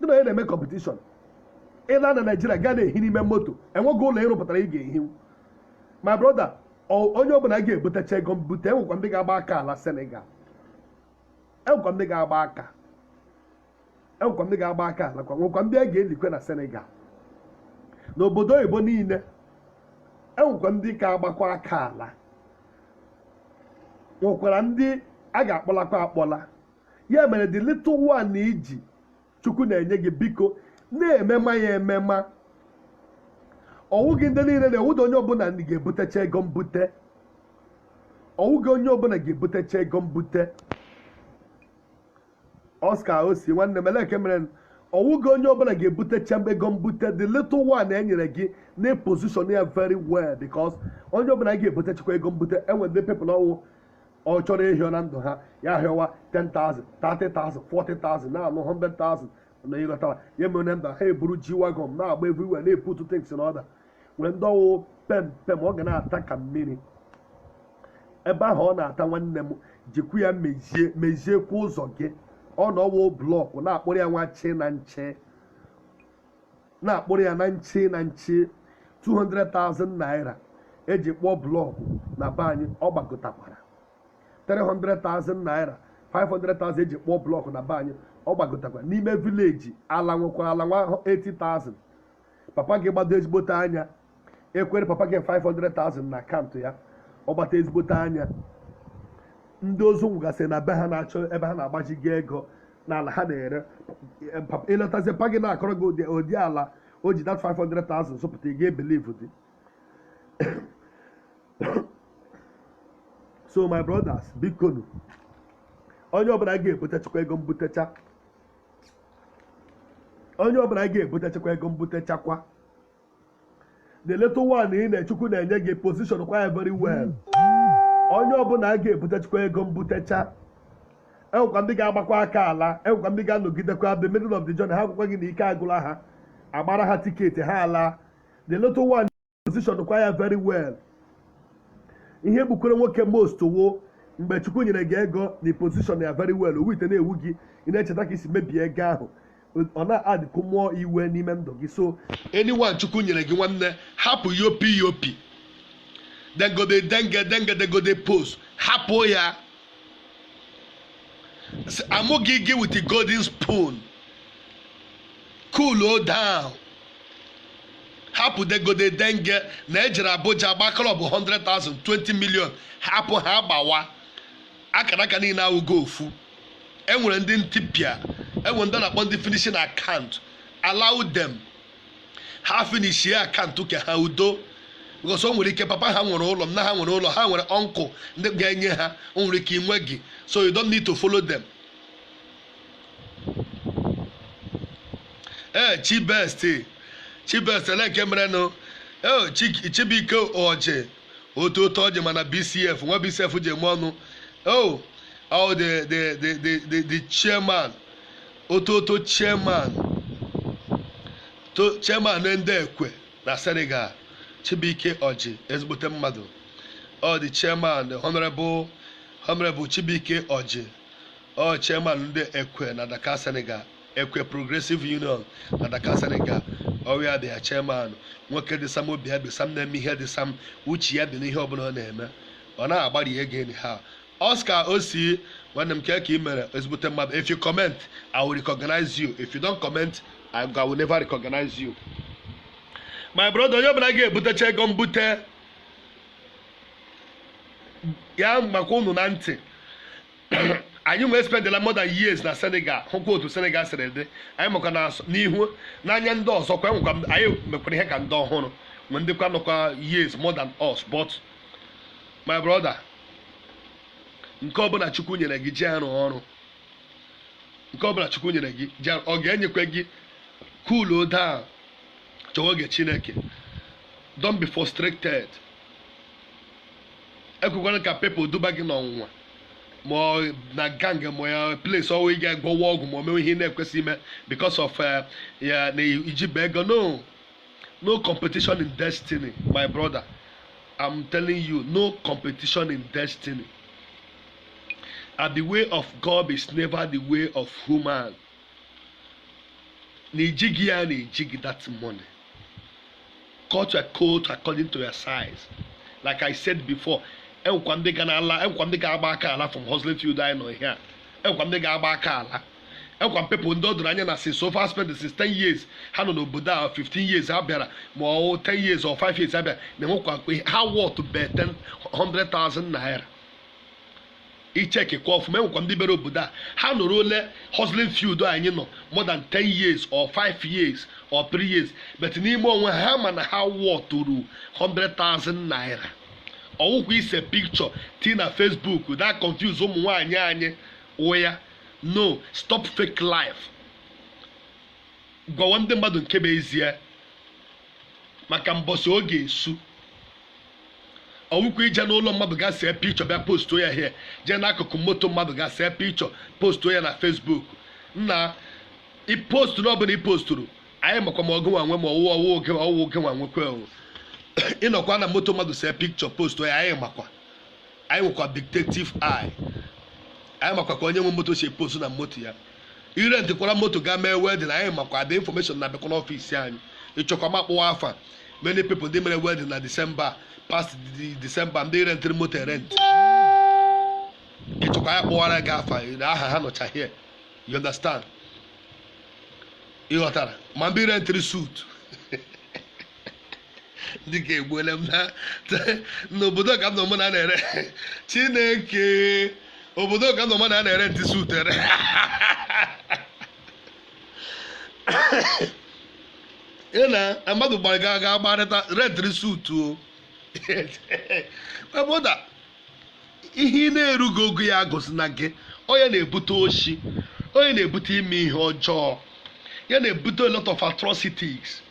gị na onye na-eme competition ị la na Nigeria gaa na-ehi n'ime moto enweghị ụlọ ị rụpụtara ị ga-ehi my brother onye ọbụla a ga-ebutecha ego mbute enwekwa ndị ga-agba aka ala Senegal enwekwa ndị ga-agba aka enwekwa ndị ga-agba aka alakwa nwekwa ndị a ga-elikwe na Senegal n'obodo oyibo niile enwekwa ndị ga-agbakwa aka ala nwekwara ndị a ga-akpọlakwa akpọla ya mere the little one i ji Chukwu na-enye gị biko na-emema ya emema ọ wụghị ndị niile na-ewuda onye ọbụla ndị ga-ebutecha ego mbute ọ wụghị onye ọbụla ga-ebutecha ego mbute Oscar osi nwanne m eleke mere ọ wụghị onye ọbụla ga-ebutecha ego mbute the little one e nyere gị na-position ya very well because onye ọbụla ga-ebutechakwa ego mbute enwere ndị people ọ wụ ọ chọrọ ịhịọ na ndụ ha ya hịọwa 10,000 30,000 40,000 na-anụ 100,000 na ị ghọtara ya mere na ndụ ha eburu G-Wagon na-agba everywhere na-eput things in order nwere ndị ọ wụ pem pem ọ ga na-ata ka mmiri ebe ahụ ọ na-ata nwanne m jikwu ya meziekwa ụzọ gị ọ na ọ wụ block na-akpụrụ ya nwa chi na nche na-akpụrụ ya na nche na nche 200,000 naira e ji kpụọ block na be anyị ọ gbagotakwara 300,000 naira 500,000 e ji kpụọ block na be anyị ọ gbagotakwara n'ime village ala nwekwara ala nwa 80,000 papa gị gbado ezigbote anya ekwere papa gị 500,000 na account ya ọ gbata ezigbote anya ndị ozu nwụgasịrị na be ha na-achọ ebe ha na-agbaji gị ego n'ala ha na-ere Eh, papa- ị lọtazie papa gị na-akọrọ gị ụdị- ụdị ala o ji that 500,000 zụpụta ị ga-ebelieve dị so my brothers bikonu onye ọbụla ga-ebutechakwa ego mbutecha onye ọbụla ga-ebutechakwa ego mbutechakwa the little one nna chukwu na-enye gị position kwa ya very well onye ọbụla a ga-ebutechakwa ego mbutecha enwekwa ndị ga-agbakwa aka ala enwekwa ndị ga-anọgidekwa the middle of the journey ha agwakwa gị na ike agụla ha agbara ha tiketi ha ala the little one position kwa ya very well ihe gbukwere nwoke most wụ mgbe chukwu nyere gị ego na position ya very well ọ wụ ihe na-ewu gị ị na-echeta ka ị si mebie ego ahụ ọ na-adịkwu mmụọ iwe n'ime ndụ gị so anyone chukwu nyere gị nwanne hapụ yopi yopi dem go dey denge denge dem go dey pose hapụ ya amụghị gị with the golden spoon cool o down hapụ dem go dey denge na ejere abuja gba club 100,000 20 million hapụ ha gbawa akara aka niile awụghị ofu enwere ndị ntipịa enwere ndị a na-akpọ ndị finishing account allow them ha finishie account nke ha udo because o nwere ike papa ha nwere ụlọ nna ha nwere ụlọ ha nwere uncle ndị ga-enye ha o nwere ike ị nweghị so you don't need to follow them ee chibest chibest elee ka ị merenụ ee chibuike ọjị otu otu ọjị mana bcf nwa bcf ji eme ọnụ oh oh the the the the the, the chairman otu otu chairman to chairman ndị ekwe na senegal chibuike ọjị ezigbote mmadụ oh the chairman the honorable honorable chibuike ọjị ọ chairman ndị ekwe na dakar senegal ekwe progressive union na dakar senegal our dear chairman nwoke dị sam obi ya dị sam na-eme ihe dị sam uche ya dị n'ihe ọbụla ọ na-eme ọ na-agbari ego enyi ha oscar osi nwanne m kee ka ị mere ezigbote mmadụ if you comment i will recognize you if you don't comment i I will never recognize you my brother onye ọbụla ga-ebutecha ego mbute ya makwa unu na ntị anyị nwa espendela more than years na senegal hụkwa otu senegal siri dị anyị maka na n'ihu n'anya ndị ọzọ kwa enwekwa m- anyị mekwara ihe ka ndị ọhụrụ nwee ndị kwa nọkwa years more than us but my brother nke ọbụla chukwu nyere gị jiri rụọ ọrụ nke ọbụla chukwu nyere gị jiri ọ ga-enyekwa gị cool o down chọwa oge chineke don't be frustrated ekwekwana ka people duba gị n'ọnwụnwa ma ọ na gang ma ya place ọ wụ ị ga-agwọwa ọgwụ ma o mewe ihe ị na-ekwesịghị ime because of eh, ya na ijibe ego no no competition in destiny my brother i'm telling you no competition in destiny and the way of god is never the way of human na ijighị ya na ijighị that money cut your coat according to your size like i said before enwekwa ndị ga na-ala enwekwa ndị ga-agba aka ala from hustling field anyị nọ here enwekwa ndị ga-agba aka ala enwekwa people ndị ọ doro anya na since so far spend since 10 years ha nọ n'obodo a 15 years ha bịara ma ọ 10 years or 5 years ha bịara na enwekwa ha worth be 100,000 naira i checkikwa ọfụma enwekwa ndị bịara obodo a ha nọrọle hustling field anyị nọ more than 10 years or 5 years or 3 years but n'ime onwe ha ma na ha worthụrụ 100,000 naira ọ wụkwa ise picture tii na facebook that confuse ụmụ nwaanyị anyị ụya no stop fake life gwawa ndị mmadụ nke bụ ezie maka mbọsị ọ ga-esu ọ wụkwa ije n'ụlọ mmadụ ga see picture bịa postuo ya here jee n'akụkụ moto mmadụ ga see picture postuo ya na facebook nna ipostu na ọbụla i posturu anyị makwa ma ọ gịnwa nwe ma ọwụ ọwụ ọ gị ọwụ ọ gịnwa nwekwe ị nọkwa na moto mmadụ see picture postuo ya anyị makwa anyị nwekwa detective eye anyị makwa ka onye nwe moto si epose na moto ya ị rentịkwara moto ga mee wedding anyị makwa the information na-abịakwa n'office anyị ị chọkwa m akpọwa afa many people ndị mere wedding na december past de- december ndị rentịrị moto erent ị chọkwa ya kpọwara gị afa na aha ha nọcha here you understand ị ghọtara ma ndị rentịrị suit dịka egbuole m na n'obodo ka m nọ mụ na na-ere chineke obodo ka m nọ mụ na na-erentị suit erent na mmadụ gbara ga ga gbarịta rentịrị suit o avoid ihe ị na-erughị ogo ya gosi na gị ọ ya na-ebute oshi ọ ya na-ebute ime ihe ọjọọ ya na-ebute a lot of atrocities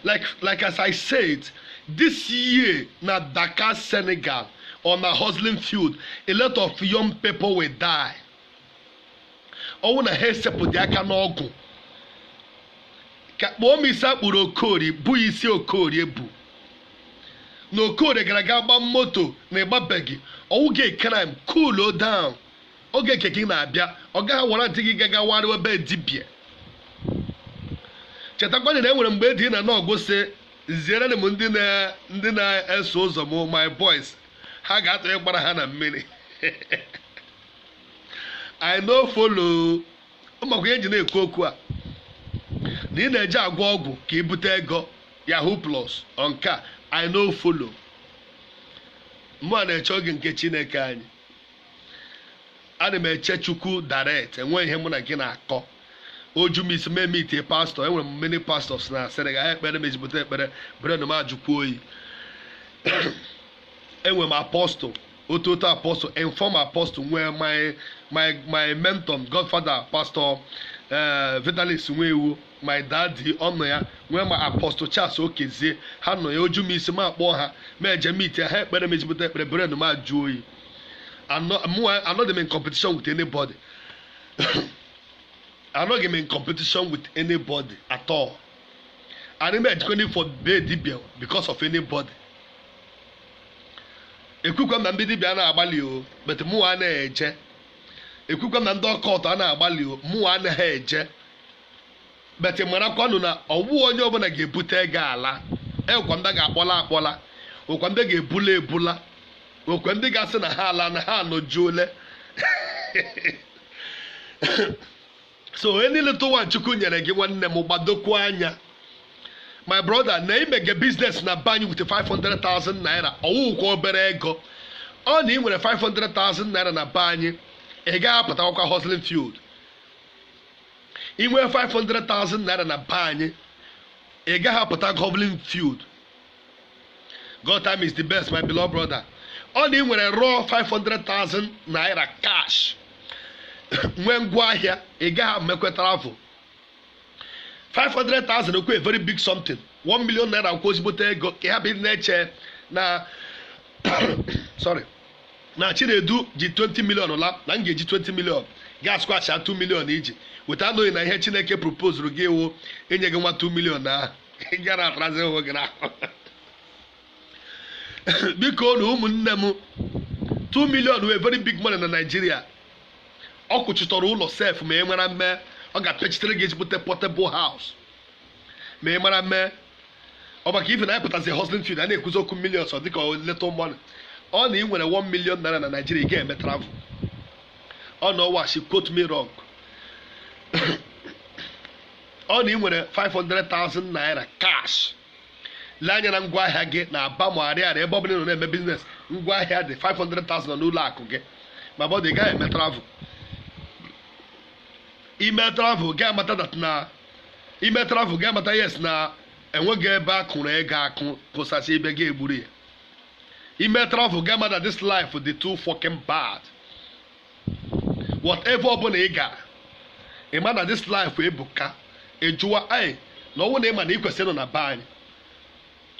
like like as i said this year na dakar senegal on a hustling field a lot of young people will die ọ wụ na ha esepụdị aka n'ọgwụ ka kpụọ m isi a kpụrụ okorie i bu isi okorie ebu na okorie gara ga gba moto na ị gbabeghị ọ wụghị crime cool down oge nke gị na-abịa ọ gaghị warrantị gị gagawarịwa be dibịa chetakwana na e nwere mgbe dị na n'ọgụ si ziere m ndị na- ndị na-eso ụzọ m my boys ha ga-atụ ịgbara ha na mmiri i no follow ị makwa ihe ji na-ekwu okwu a na ị na-eje agwọ ọgwụ ka i bute ego yahoo plus ọnka i no follow mụwa na-eche oge nke chineke anyị ana m eche chukwu direct enweghị ihe mụ na gị na-akọ oju m isi mee meet pastor enwere m many pastors na asịrị ga ekpere m ezigbote ekpere brain m ajụkwa oyi enwere m apostle otu otu apostle inform apostle nwee my my my mentor godfather pastor eh, vitalis nwaiwu my daddy ọ nọ ya nwee ma apostle charles okezie ha nọ ya oju m isi m akpọọ ha m eje meet ha ekpere m ezigbote ekpere brain m ajụ oyi Anọ- mụ anọghị m in competition with anybody anọghị m in competition with anybody at all anaghị m ejekwanụ for be dibia because of anybody ekwukwa m na ndị dibia na-agbalị o but mụ anaghị eje ekwukwa m na ndị occult a na-agbalị o mụ anaghị eje but marakwanụ na ọwụ onye ọbụla ga-ebute ego ala ekwa ndị ga-akpọla akpọla okwa ndị ga-ebula ebula okwe ndị ga-asị na ha ala na ha anọjuole so any little one chukwu nyere gị nwanne m gbadokwu anya my brother na imege business na be anyị with 500,000 naira ọ wụghịkwa obere ego ọ na ị nwere 500,000 naira na be anyị ị gaghị apụtakwa hustling field ị nwee 500,000 naira na be anyị ị gaghị apụta hustling field God time is the best my beloved brother ọ na ị nwere raw 500,000 naira cash nwee ngwa ahịa ị gaghị emekwa travel 500,000 wụkwa very big something 1 million naira wụkwa ezigbote ego ka ị hapụ ịdị na-eche na sorry na chinedu ji 20 million la na m ga-eji 20 million ga squash 2 million i ji weta anụghị na ihe chineke propozuru gị wụ inye gị nwa 2 million ahụ ị gara atarazi onwe gị n'ahụ biko na ụmụnne m 2 million wụ very big money na Naịjirịa ọ kwụchitọrọ ụlọ sef ma ị mara mme ọ ga-apịachitere gị ezigbote portable house ma ị mara mee ọ maka ife na anyị pụtazi hustling field a na-ekwuzi okwu millions ọ dịka little money ọ na ị nwere 1 million naira na Naịjirịa ị ga-eme travel ọ na ọ wụ ashị quote me wrong ọ na ị nwere 500,000 naira cash lee anya na ngwa ahịa gị na aba ma ariaria ebe ọ bụla ị nọ na-eme business ngwa ahịa dị 500,000 nọ n'ụlọ akụ gị my brother ị gaghị eme travel i mee travel ị ga-amata that na i mee travel ị ga-amata yes na enweghị ebe a kụrụ ego akụ kụsasị ebe ị ga-egburu ya i mee travel ị ga-amata this life dị too fucking bad whatever ọbụla ị gara ị ma na this life ebuka ị jụwa anyị na ọ wụ na ị ma na ị kwesịrị nọ na be anyị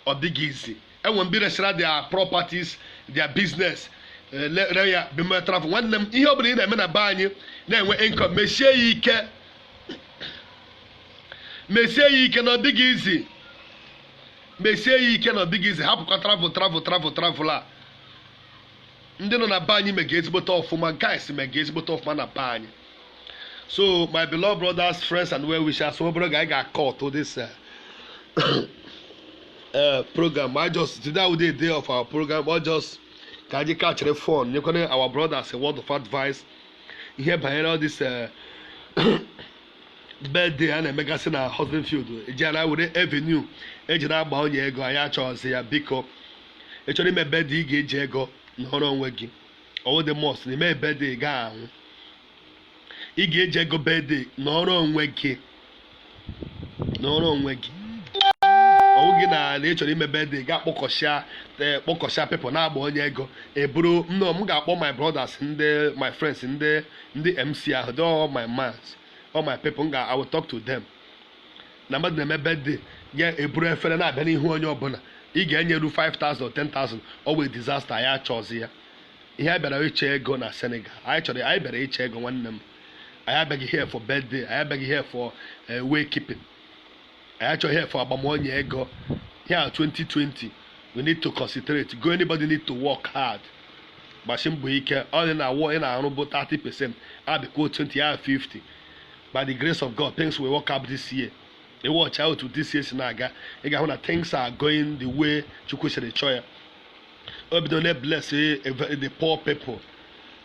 ọ dịghị easy enwe mgbe resịra their properties their business eh, le- re ya bima travel nwanne m ihe ọbụla ị na-eme na be anyị na-enwe income mesie ya ike mesie ya ike na ọ dịghị easy mesie ya ike na ọ dịghị easy hapụkwa travel travel travel travel a ndị nọ na be anyị mega ezigbote ọfụma guys mega ezigbote ọfụma na be anyị so my beloved brothers friends and well wishers ọ bụrụ ga anyị ga-akọ ọtụ this uh, uh, program I just today we dey day of our program I just ka anyị kachịrị phone nyekwana our brothers a word of advice ihe banyere all this uh, birthday a na-emegasị na husband field ejela were avenue eji na-agba onye ego anyị achọghịzị ya biko ị chọrọ ime birthday ị ga-eji ego nọrọ onwe gị ọwụghị must na ime birthday ị gaghị anwụ ị ga-eji ego birthday nọrọ onwe gị nọrọ onwe gị ọwụ gị na na ị chọrọ ime birthday ị ga-akpọkọsịa ee, kpọkọsịa people na-agba onye ego eburu nnọọ m ga-akpọ my brothers ndị my friends ndị ndị mc ahụ they all my mans all my people m ga I will talk to them na mmadụ na-eme birthday ya eburu efere na-abịa n'ihu onye ọbụla ị ga-enyeru 5000 10000 ọ wụ disaster anyị achọzi ya ihe a bịara ịchọ ego na senegal anyị chọrọ anyị bịara ịchọ ego nwanne m anyị abịaghị here for birthday anyị abịaghị here for eh, wake keeping anyị achọghị ihe ịgba onye ego year 2020 we need to concentrate go anybody need to work hard gbasi mbọ ike ọ dị na hour ị na-arụ bụ 30 percent addịkwuo 20 ya 50 by the grace of god things will work out this year ị watch otu this year si na-aga ị ga-ahụ na things are going the way chukwu siri chọọ ya o bido na-ebless the poor people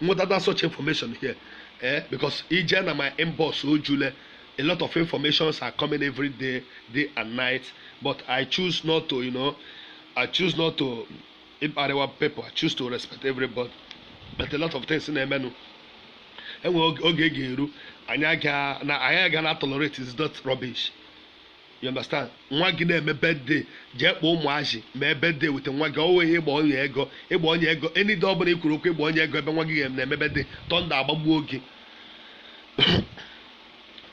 nwetata such information here eh because ị jee na my inbox ojule a lot of informations are coming every day day and night but i choose not to you know i choose not to ịkparịwa people i choose to respect everybody but a lot of things na-emenụ enwe oge oge ga-eru anyị aga na anyị aga na tolerate is not rubbish you understand nwa gị na-eme birthday jee kpọọ ụmụazị mee birthday with nwa gị ọwụghị ịgba onye ego ịgba onye ego any day ọ bụla i kwuru okwu ịgba onye ego ebe nwa gị na-eme birthday thunder agbagbuo gị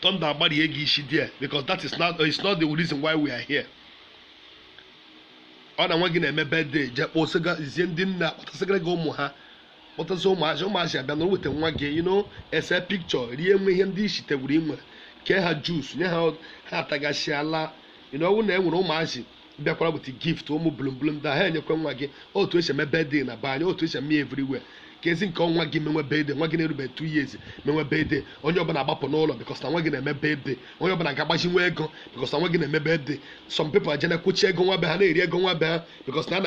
thunder agbarie gị isi there because that is not it's not the reason why we are here ọ na nwa gị na-eme birthday jee kpọsịgazie ndị nna kpọtasịgara gị ụmụ ha kpọtazi ụmụazị ụmụazị abịa na o weta nwa gị unu ese picture rie nwe ihe ndị isitegwuru inwe kee ha juice nye ha ha atagasịa laa ino ọwụ na e nwere ụmụazị bịakwara weta gift ụmụ bulumbulu ndị ha enyekwe nwa gị otu esi eme birthday na be anyị otu esi eme everywhere ka ezi nke ọ nwa gị menwe birthday nwa gị na-erube two years menwe birthday onye ọbụla agbapụ n'ụlọ because na nwa gị na-eme birthday onye ọbụla ga-agbajiwe ego because na nwa gị na-eme birthday some people ajana kwụchi ego nwa be ha na-eri ego nwa be ha because na a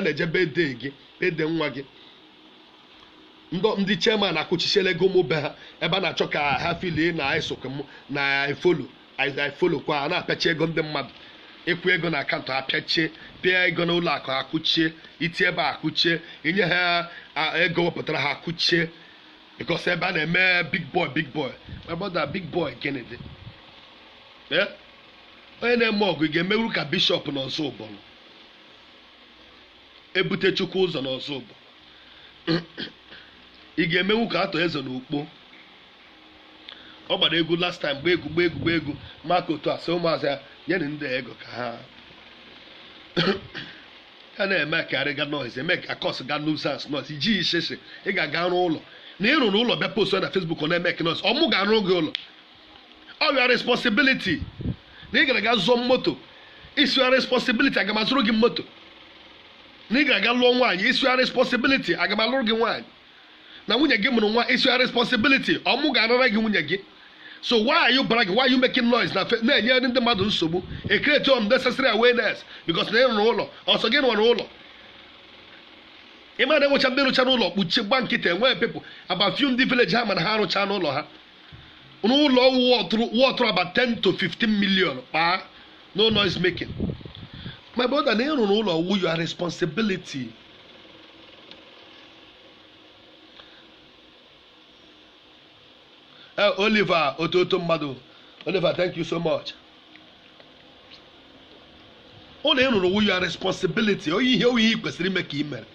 na-eje birthday gị ede nwa gị ndị ndị chairman akụchichiela ego ụmụ be ha ebe a na-achọ ka ha feelie na esokwe m na I follow I follow kwa a na-apịachi ego ndị mmadụ ịkwụ ego na account apịachie pịa ego na ụlọ akụ akụchie iti ebe a akụchie inye ha a- ego wepụtara ha akụchie because ebe a na-eme big boy big boy my brother big boy gịnị dị Eh? onye na-eme ọgọ ị ga-emewuru ka Bishop na Ọzụbụlụ Ebube Chukwu Ụzọ n'Ọzụbụlụ ị ga-emenwu ka Arthur Eze n'Ukpo ọ gbara egwu last time gba egwu gba egwu gba egwu maka otu a sị ụmụazị ya nyere ndị a ego ka ha ya na-emekarịga noise eme ka cause ga nuisance noise iji isese ị ga-aga rụọ ụlọ na ị rụrụ ụlọ bịa post na Facebook ọ na-eme ka noise ọ mụ ga-arụ gị ụlọ ọ your responsibility na ị gara aga zụọ moto is your responsibility aga m azụrụ gị moto na ị gara aga lụọ nwaanyị is your responsibility aga m alụrụ gị nwaanyị na nwunye gị mụrụ nwa is your responsibility ọ mụ ga-arara gị nwunye gị so why are you bragging why are you making noise na fe- na-enye ndị mmadụ nsogbu e create unnecessary awareness because na ị rụrụ ụlọ ọ sọ gị rụrụ ụlọ ị ma na e nwecha ndị rụchara ụlọ kpuchie gba nkịtị only people about few ndị village ha ma na ha arụchana ụlọ ha n'ụlọ worth-ụrụ about 10 to 15 million kpaa no noise making my brother na ị rụrụ ụlọ wu your responsibility Eh, Oliver ototo mmadụ Oliver thank you so much ụlọ ị rụrụ wu your responsibility ọwụ ihe ị kwesịrị ime ka ị mere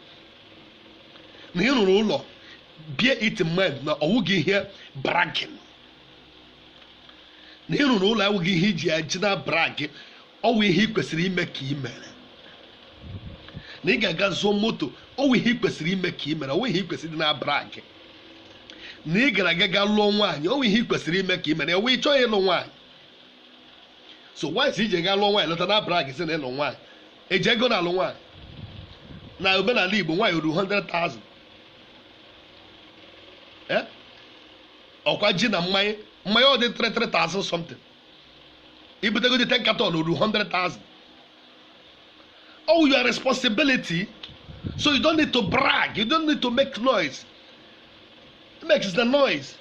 na ị rụrụ ụlọ bear it in mind na ọwụghị ihe bragging na ị rụrụ ụlọ awụghị ihe ị ji eji na brag ọwụ ihe ị kwesịrị ime ka ị mere na ị gara aga zụọ moto ọwụ ihe ị kwesịrị ime ka ị mere ọwụ ihe ị kwesịrị ịdị na brag na ị gara aga ga lụọ nwaanyị ọwụ ihe ị kwesịrị ime ka ị mere ọwụ ị chọghị ịlụ nwaanyị so once ị je ga lụọ nwaanyị lọta na brag sị na ị lụ nwaanyị eji ego na alụ nwaanyị na omenala igbo nwaanyị ruru 100,000 Eh? ọkwa ji na mmanya mmanya ọ dị 3,000 something ibutegodi 10 carton ruru 100,000 ọ your responsibility so you don't need to brag you don't need to make noise ị mekide noise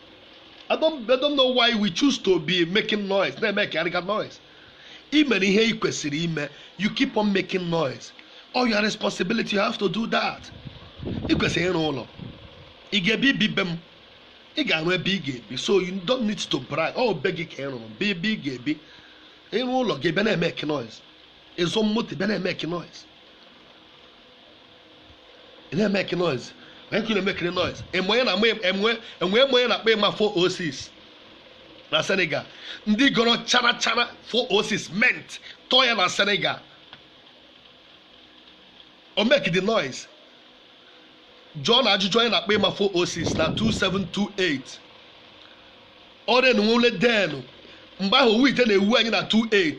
I don't, I don't know why we choose to be making noise na-emekarịga noise i mere ihe i kwesịrị ime you keep on making noise ọ your responsibility you have to do that i kwesịrị ịrụ ụlọ ị ga-ebi i bi be m ị ga-arụ ebe ị ga-ebi so you don't need to brag ọ be gị ka ị rụrụ be ebe ị ga-ebi ị rụọ ụlọ gị abịa na-emeke noise ị zụọ moto ị bịa na-emeke noise ị na-emeke noise onye nkiri na-emekide noise enwe onye na-ama enwe enwe eme onye na-akpa ịma 406 na senegal ndị gọrọ chara chara 406 mint tọọ ya na senegal o mekide noise jụọnụ ajụjụ onye na-akpa ịma 406 na 27 28 ọrịa na nwule denụ mgbe ahụ owu ite na-ewu anyị na 28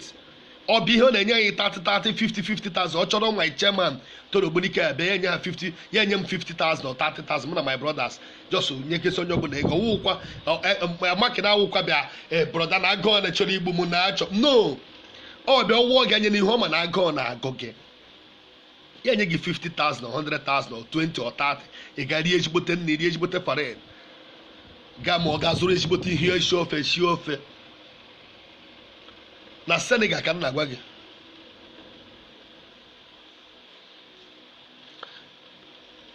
ọ bụ ihe ọ na-enye anyị 30 30 50 50,000 ọ chọrọ my chairman toro ogbunike ebe ya enye ha 50 ya enye m 50,000 or 30,000 mụ na my brothers just ya ekesa onye ọbụla ego ọwụkwa maka na awụkwa bịa eh, broda na agụọ na chọrọ igbu m na achọ no ọ bịa ọwụọ gị anya n'ihu ọ ma na agụọ na agụ gị ya enye gị 50,000 or 100,000 or 20 or 30 ị ga rie ezigbote nri rie ezigbote farine gaa ma ọ ga zụrụ ezigbote ihe isi ofe sie ofe na senegal ka m na-agwa gị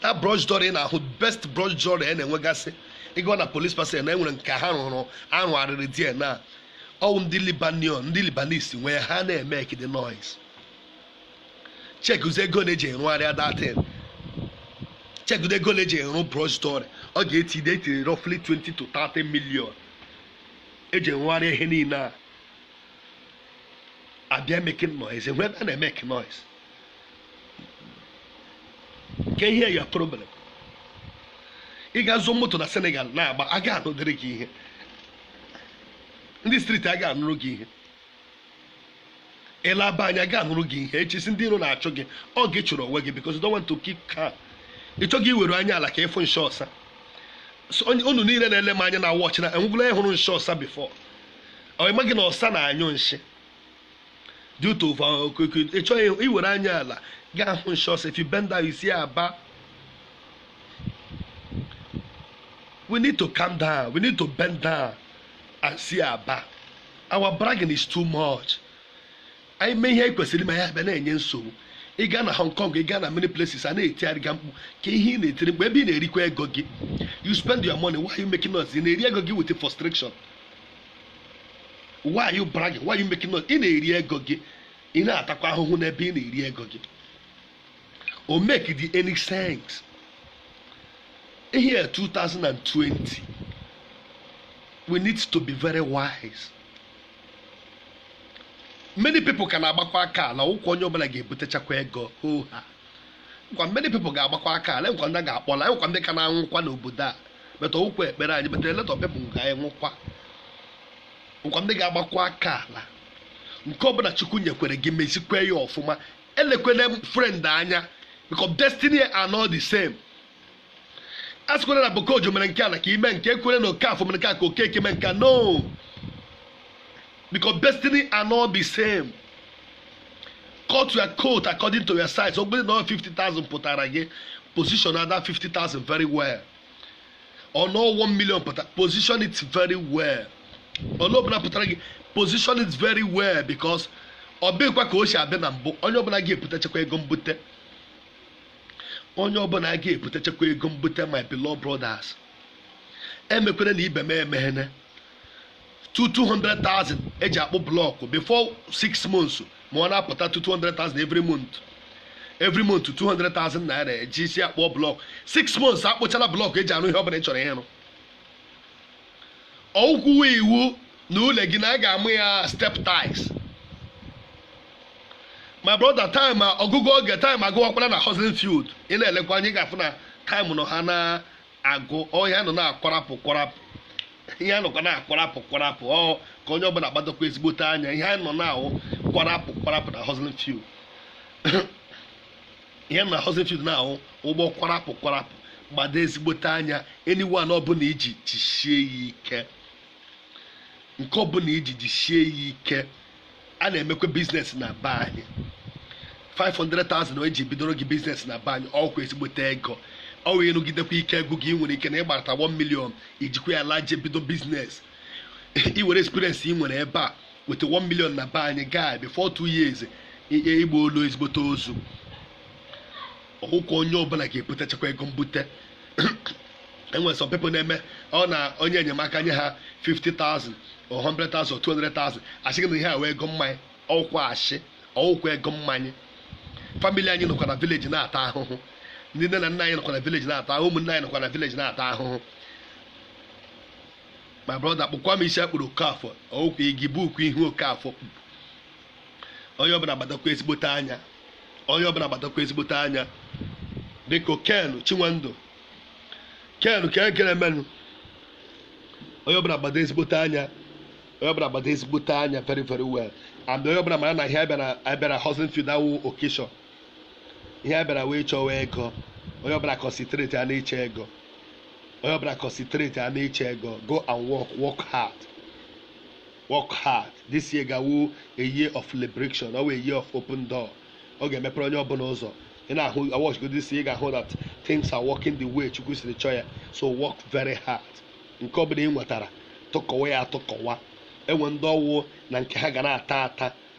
that Brioche Dorée ị na-ahụ best Brioche Dorée a na-enwegasị ị gaa na police Parcelles na enwere nke ha rụrụ arụ arụrụ there na ọwụ ndị Lebanon ndị Lebanese nwe ha na-emekide noise chekuzi ego na-eji rụgharịa that thing chekuzi ego na-eji rụ Brioche Dorée ọ ga-eti de etiri roughly 20 to 30 million eji rụgharịa ihe niile a abịa making noise enwe ebe a na-emeke noise ka ihe ya problem ị ga-azụ moto na senegal na-agba a ga-anụdịrị gị ihe ndị street a ga-anụrụ gị ihe ịlaba anya ga-anụrụ gị ihe i chee sị ndị iro na-achụ gị ọ gị chụrụ onwe gị because you don't want to keep calm ị chọghị iwere anya ala ka ị fụ nshị ọsa So, onye- unu niile na-ele m anya na watch na enwegwula onye hụrụ nshị ọsa before ọ maghị na ọsa na-anyụ nshị due to ị chọghị iwere anya ala gaa hụ nshọs if you bend down you see aba we need to calm down we need to bend down and see aba our bragging is too much anyị mee ihe anyị kwesịrị ma ya abịa na-enye nsogbu ị gaa na hong kong ị gaa na many places a na-etigharị ga mkpu ka ihe ị na-etiri mkpu ebe ị na-erikwa ego gị you spend your money why are you making noise ị na-eri ego gị with frustration why are you bragging why are you making noise ị na-eri ego gị ị na-atakwa ahụhụ n'ebe ị na-eri ego gị ọ make-ghị any sense year 2020 we need to be very wise many people ka na-agbakwa aka alakwa onye ọbụla ga-ebutechakwa ego oha kwa many people ga-agbakwa aka ala e nwekwa ndị ga-akpọla e nwekwa ndị ka na-anwụkwa n'obodo a but ọ bụghịkwa ekpere anyị but a lot of people ga-anwụkwa e nwekwa ndị ga-agbakwa aka ala nke ọbụla chukwu nyekwere gị mezikwe ya ọfụma elekwene friend anya because destiny are not the same a sịkwara na bokojo mere nke a na ka ime nke ekwere na okafọ mere nke a ka okeke mere nke a no because destiny are not the same cut your coat according to your size ọ bụrụ na ọ 50,000 pụtara gị position that 50,000 very well ọ na 1 million pụtara position it very well onye ọbụla pụtara gị position it very well because ọ bụghịkwa ka o si abịa na mbụ onye ọbụla ga-ebutechakwa ego mbute onye ọbụla a ga-ebutechakwa ego mbute my beloved brothers emekwere na ibe m emeghene 200,000 eji akpụ blọkụ before 6 months ma ọ na-apụta 200,000 every month every month 200,000 naira eji isi akpụọ blọkụ 6 months akpụchala blọkụ eji arụ ihe ọbụla ị chọrọ ịrụ ọ bụghịkwa iwu na ụlọ gị na a ga-amụ ya step tiles my brother time ọgwụgwụ oge time agwụwakwala na hustling field ị na-elekwa anya ị ga-afụ na time nọ ha na-agwụ ọ ihe a nọ na-akwarapụ kwarapụ ihe anọkwa na-akwarapụ kwarapụ ọ ka onye ọbụla gbadokwa ezigbote anya ihe anyị nọ na-ahụ kwarapụ kwarapụ na hustling field ihe mere hustling field na-ahụ ugbu a kwarapụ kwarapụ gbado ezigbote anya anyone ọbụla iji jisie ya ike nke ọbụla iji jisie ya ike a na-emekwa business na be anyị 500,000 eji bidoro gị business na be anyị ọkwa ezigbote ego ọ wee rụgidekwa ike agwụ gị i nwere ike na ịgbarata 1 million i jikwa ya laje bido business i nwere experience ị nwere ebe a weta 1 million na be anyị gaa before 2 years ihe igba olu ezigbote ozu ọkụkọ onye ọbụla ga-ebutechakwa ego mbute enwere some people na-eme ọ na onye enyemaka nye ha 50,000 or 100,000 or 200,000 asị gị na ihe a wụ ego mmanya ọ wụkwa ashị ọ wụkwa ego mmanya family anyị nọkwa na village na-ata ahụhụ ndị nne na nna anyị nọkwa na village na-ata ahụhụ ụmụnne anyị nọkwa na village na-ata ahụhụ my brother kpụkwa m isi a kpụrụ Okafọ ọ wụkwa ị ga-ebukwu ihu Okafọ kpụpụ onye ọbụla gbadokwa ezigbote anya onye ọbụla gbadokwa ezigbote anya biko Ken Chinwendụ Ken ka ekele m unu onye ọbụla gbado ezigbote anya onye ọbụla gbado ezigbote anya very very well and onye ọbụla mara na ihe abịara abịara hustling field awụ occasion ihe abịara wụ ịchọwa ego onye ọbụla concentrate ya n'ịchọ ego onye ọbụla concentrate a n'ịchọ ego go and work work hard work hard this year ga-awụ a year of liberation ọ wụ a year of open door ọ ga-emepere onye ọbụla ụzọ ị na-aworship God this year ị ga-ahụ that things are working the way chukwu siri chọọ ya so work very hard nke ọbụla ị nwetara tụkọwa ya atụkọwa enwe ndị ọ wụ na nke ha ga na-ata ata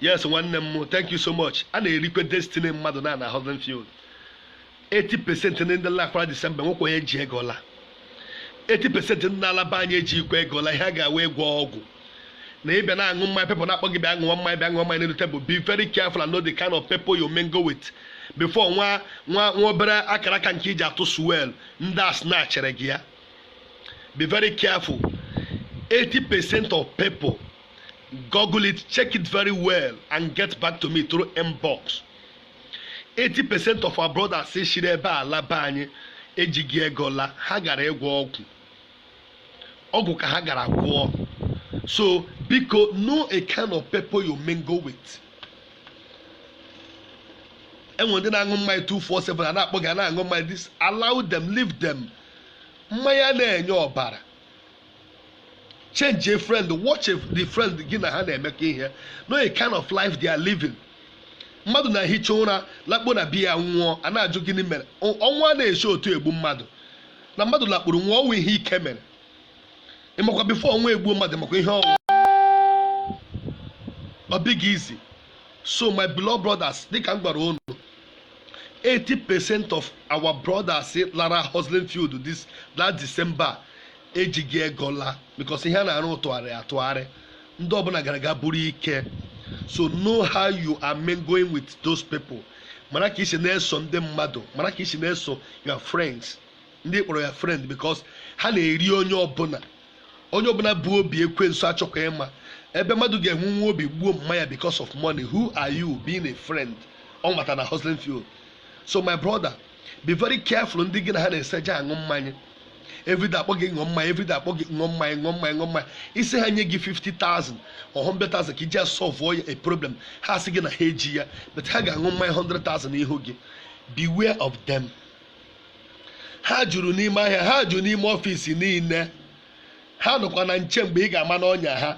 yes nwanne m thank you so much a na-erikwa destiny mmadụ na na hustling field 80 percent ndị ndị lakwara December nwekwa onye ji ego la 80 percent ndị na-ala be anyị ejikwa ego la ihe ha gara wụ ịgwọ ọgwụ na ị bịa na-aṅụ mmanya people na-akpọ gị bịa ṅụọ mmanya bịa ṅụọ mmanya n'elu table be very careful and know the kind of people you mingle with before nwa nwa nwa obere akaraka nke i ji atụ suwel ndị a snatchịrị gị ya be very careful 80 percent of people Google it, check it very well, and get back to me through inbox. 80% of our brothers si shiri ebe a la be anyị ejighị ego la ha gara ịgwọ ọgwụ ọgwụ ka ha gara gwọọ so biko know a kind of people you mingle with enwere ndị na-aṅụ mmanya 247 a na-akpọ gị a na-aṅụ mmanya disallow them leave them mmanya na-enye ọbara change a friend watch a- the friend gị na ha na-emekọ ihe know a kind of life they are living mmadụ na-ehicha ụra lakpuo na bed ya nwụọ a na-ajụ gịnị mere Ọ- ọnwụ a na-esi otu egbu mmadụ na mmadụ lakpuru nwụọ o nwe ihe ike mere ị makwa before ọnwụ egbuo mmadụ makwa ihe ọ wụ ọ bụghị easy so my beloved brothers dịka m gwara unu 80 percent of our brothers lara hustling field this last December ejighị ego laa because ihe a na-arụ atụgharị atụgharị ndị ọbụla gara aga buru ike so know how you are mingling with those people mara ka i si na-eso ndị mmadụ mara ka i si na-eso your friends ndị kpọrọ your friend because ha na-eri onye ọbụla Onye ọbụla bu obi ekwensu achọkwa ịma ebe mmadụ ga-enwe nwa obi gbuo mma ya because of money who are you being a friend ọ nwata na hustling field so my brother be very careful ndị gị na ha na-eso eje aṅụ mmanya everyday a kpọọ gị ṅụọ mmanya everyday a kpọọ gị ṅụọ mmanya ṅụọ mmanya ṅụọ mmanya ị sị ha nye gị 50,000 or 100,000 ka i ji solve a problem ha asị gị na ha eji ya but ha ga-aṅụ mmanya 100,000 n'ihu gị beware of them ha juru n'ime ahịa ha juru n'ime office niile ha nọkwa na nche mgbe ị ga-ama n'ọnya ha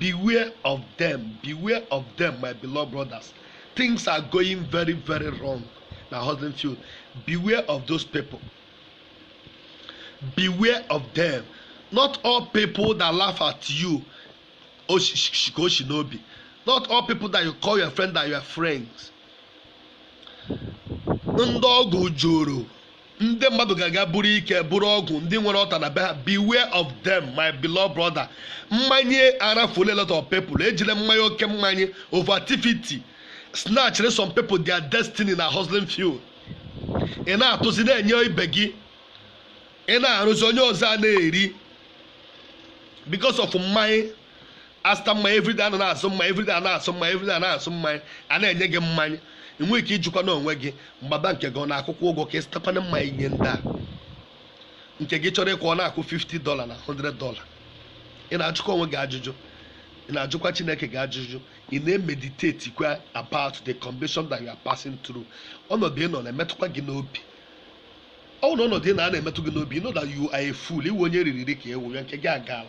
beware of them beware of them my beloved brothers things are going very very wrong na hustling field beware of those people beware of them not all people that laugh at you o si n'obi not all people that you call your friend are your friends ndị ọgwụ juru ndị mmadụ ga-aga buru ike buru ọgwụ ndị nwere altar na be ha beware of them my beloved brother mmanye arafuole a lot of people e jile mmanye oke mmanye over activity snatchere some people their destiny na hustling field ị na-atụzi na-enye ibe gị ị na-arụzi onye ọzọ a na-eri because of mmanya a zụta mmanya everyday a na-azụ mmanya everyday a na-azụ mmanya everyday a na-azụ mmanya a na-enye gị mmanya ị nwere ike ijikwa na onwe gị mgbaba nke gị ọ na-akwụkwa ụgwọ ka ị zụtakwana mmanya inye ndị a nke gị chọrọ ịkwụ ọ na-akwụ 50 dollar na 100 dollar ị na-ajụkwa onwe gị ajụjụ ị na-ajụkwa chineke gị ajụjụ ị na-emeditate kwa about the condition that you are passing through ọnọdụ ị nọ na-emetụkwa gị n'obi ọ bụrụ na ọnọdụ ị nọ a na-emetụ gị n'obi you know that you are a fool ị wụ onye eriri eri ka ewu ya nke gị agaala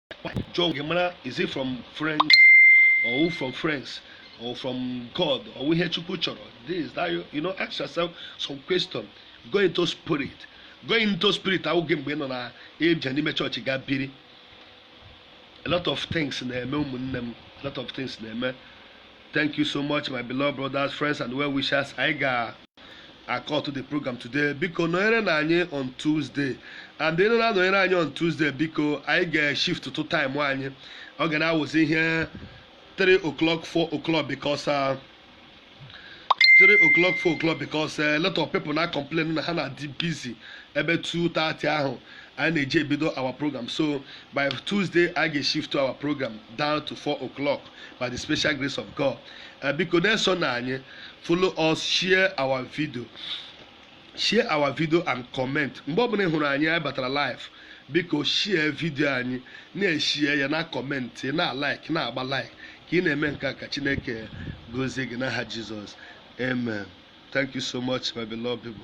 jụọ gị mara is it from friends ọ wụ from friends or from God ọ wụ ihe Chukwu chọrọ this that you, you know ask yourself some question go into spirit go into spirit awụghị mgbe ị nọ na ịbịa n'ime church ga biri a lot of things na-eme ụmụnne m a lot of things na-eme thank you so much my beloved brothers friends and well wishers anyị ga acutụ the program today biko nọnyerenụ anyị on Tuesday and unu na-anọnyere anyị on Tuesday biko anyị ga-eshiftụ time anyị ọ ga na-awụzi ihe 3 o'clock 4 o'clock because uh, 3 o'clock 4 o'clock because uh, a lot of people na-acomplain na ha na-adị busy ebe 2:30 ahụ anyị na-eji ebido our program so by Tuesday anyị ga-eshiftụ our program down to 4 o'clock by the special grace of God eh, biko na-esonụ anyị follow us share our video share our video and comment mgbe ọbụla ị hụrụ anyị anyị batara live biko share video anyị na-eshare ya na-acomment na-alike na-agba like ka ị na-eme nke a ka Chineke gozie gị n'aha Jesus amen thank you so much my beloved people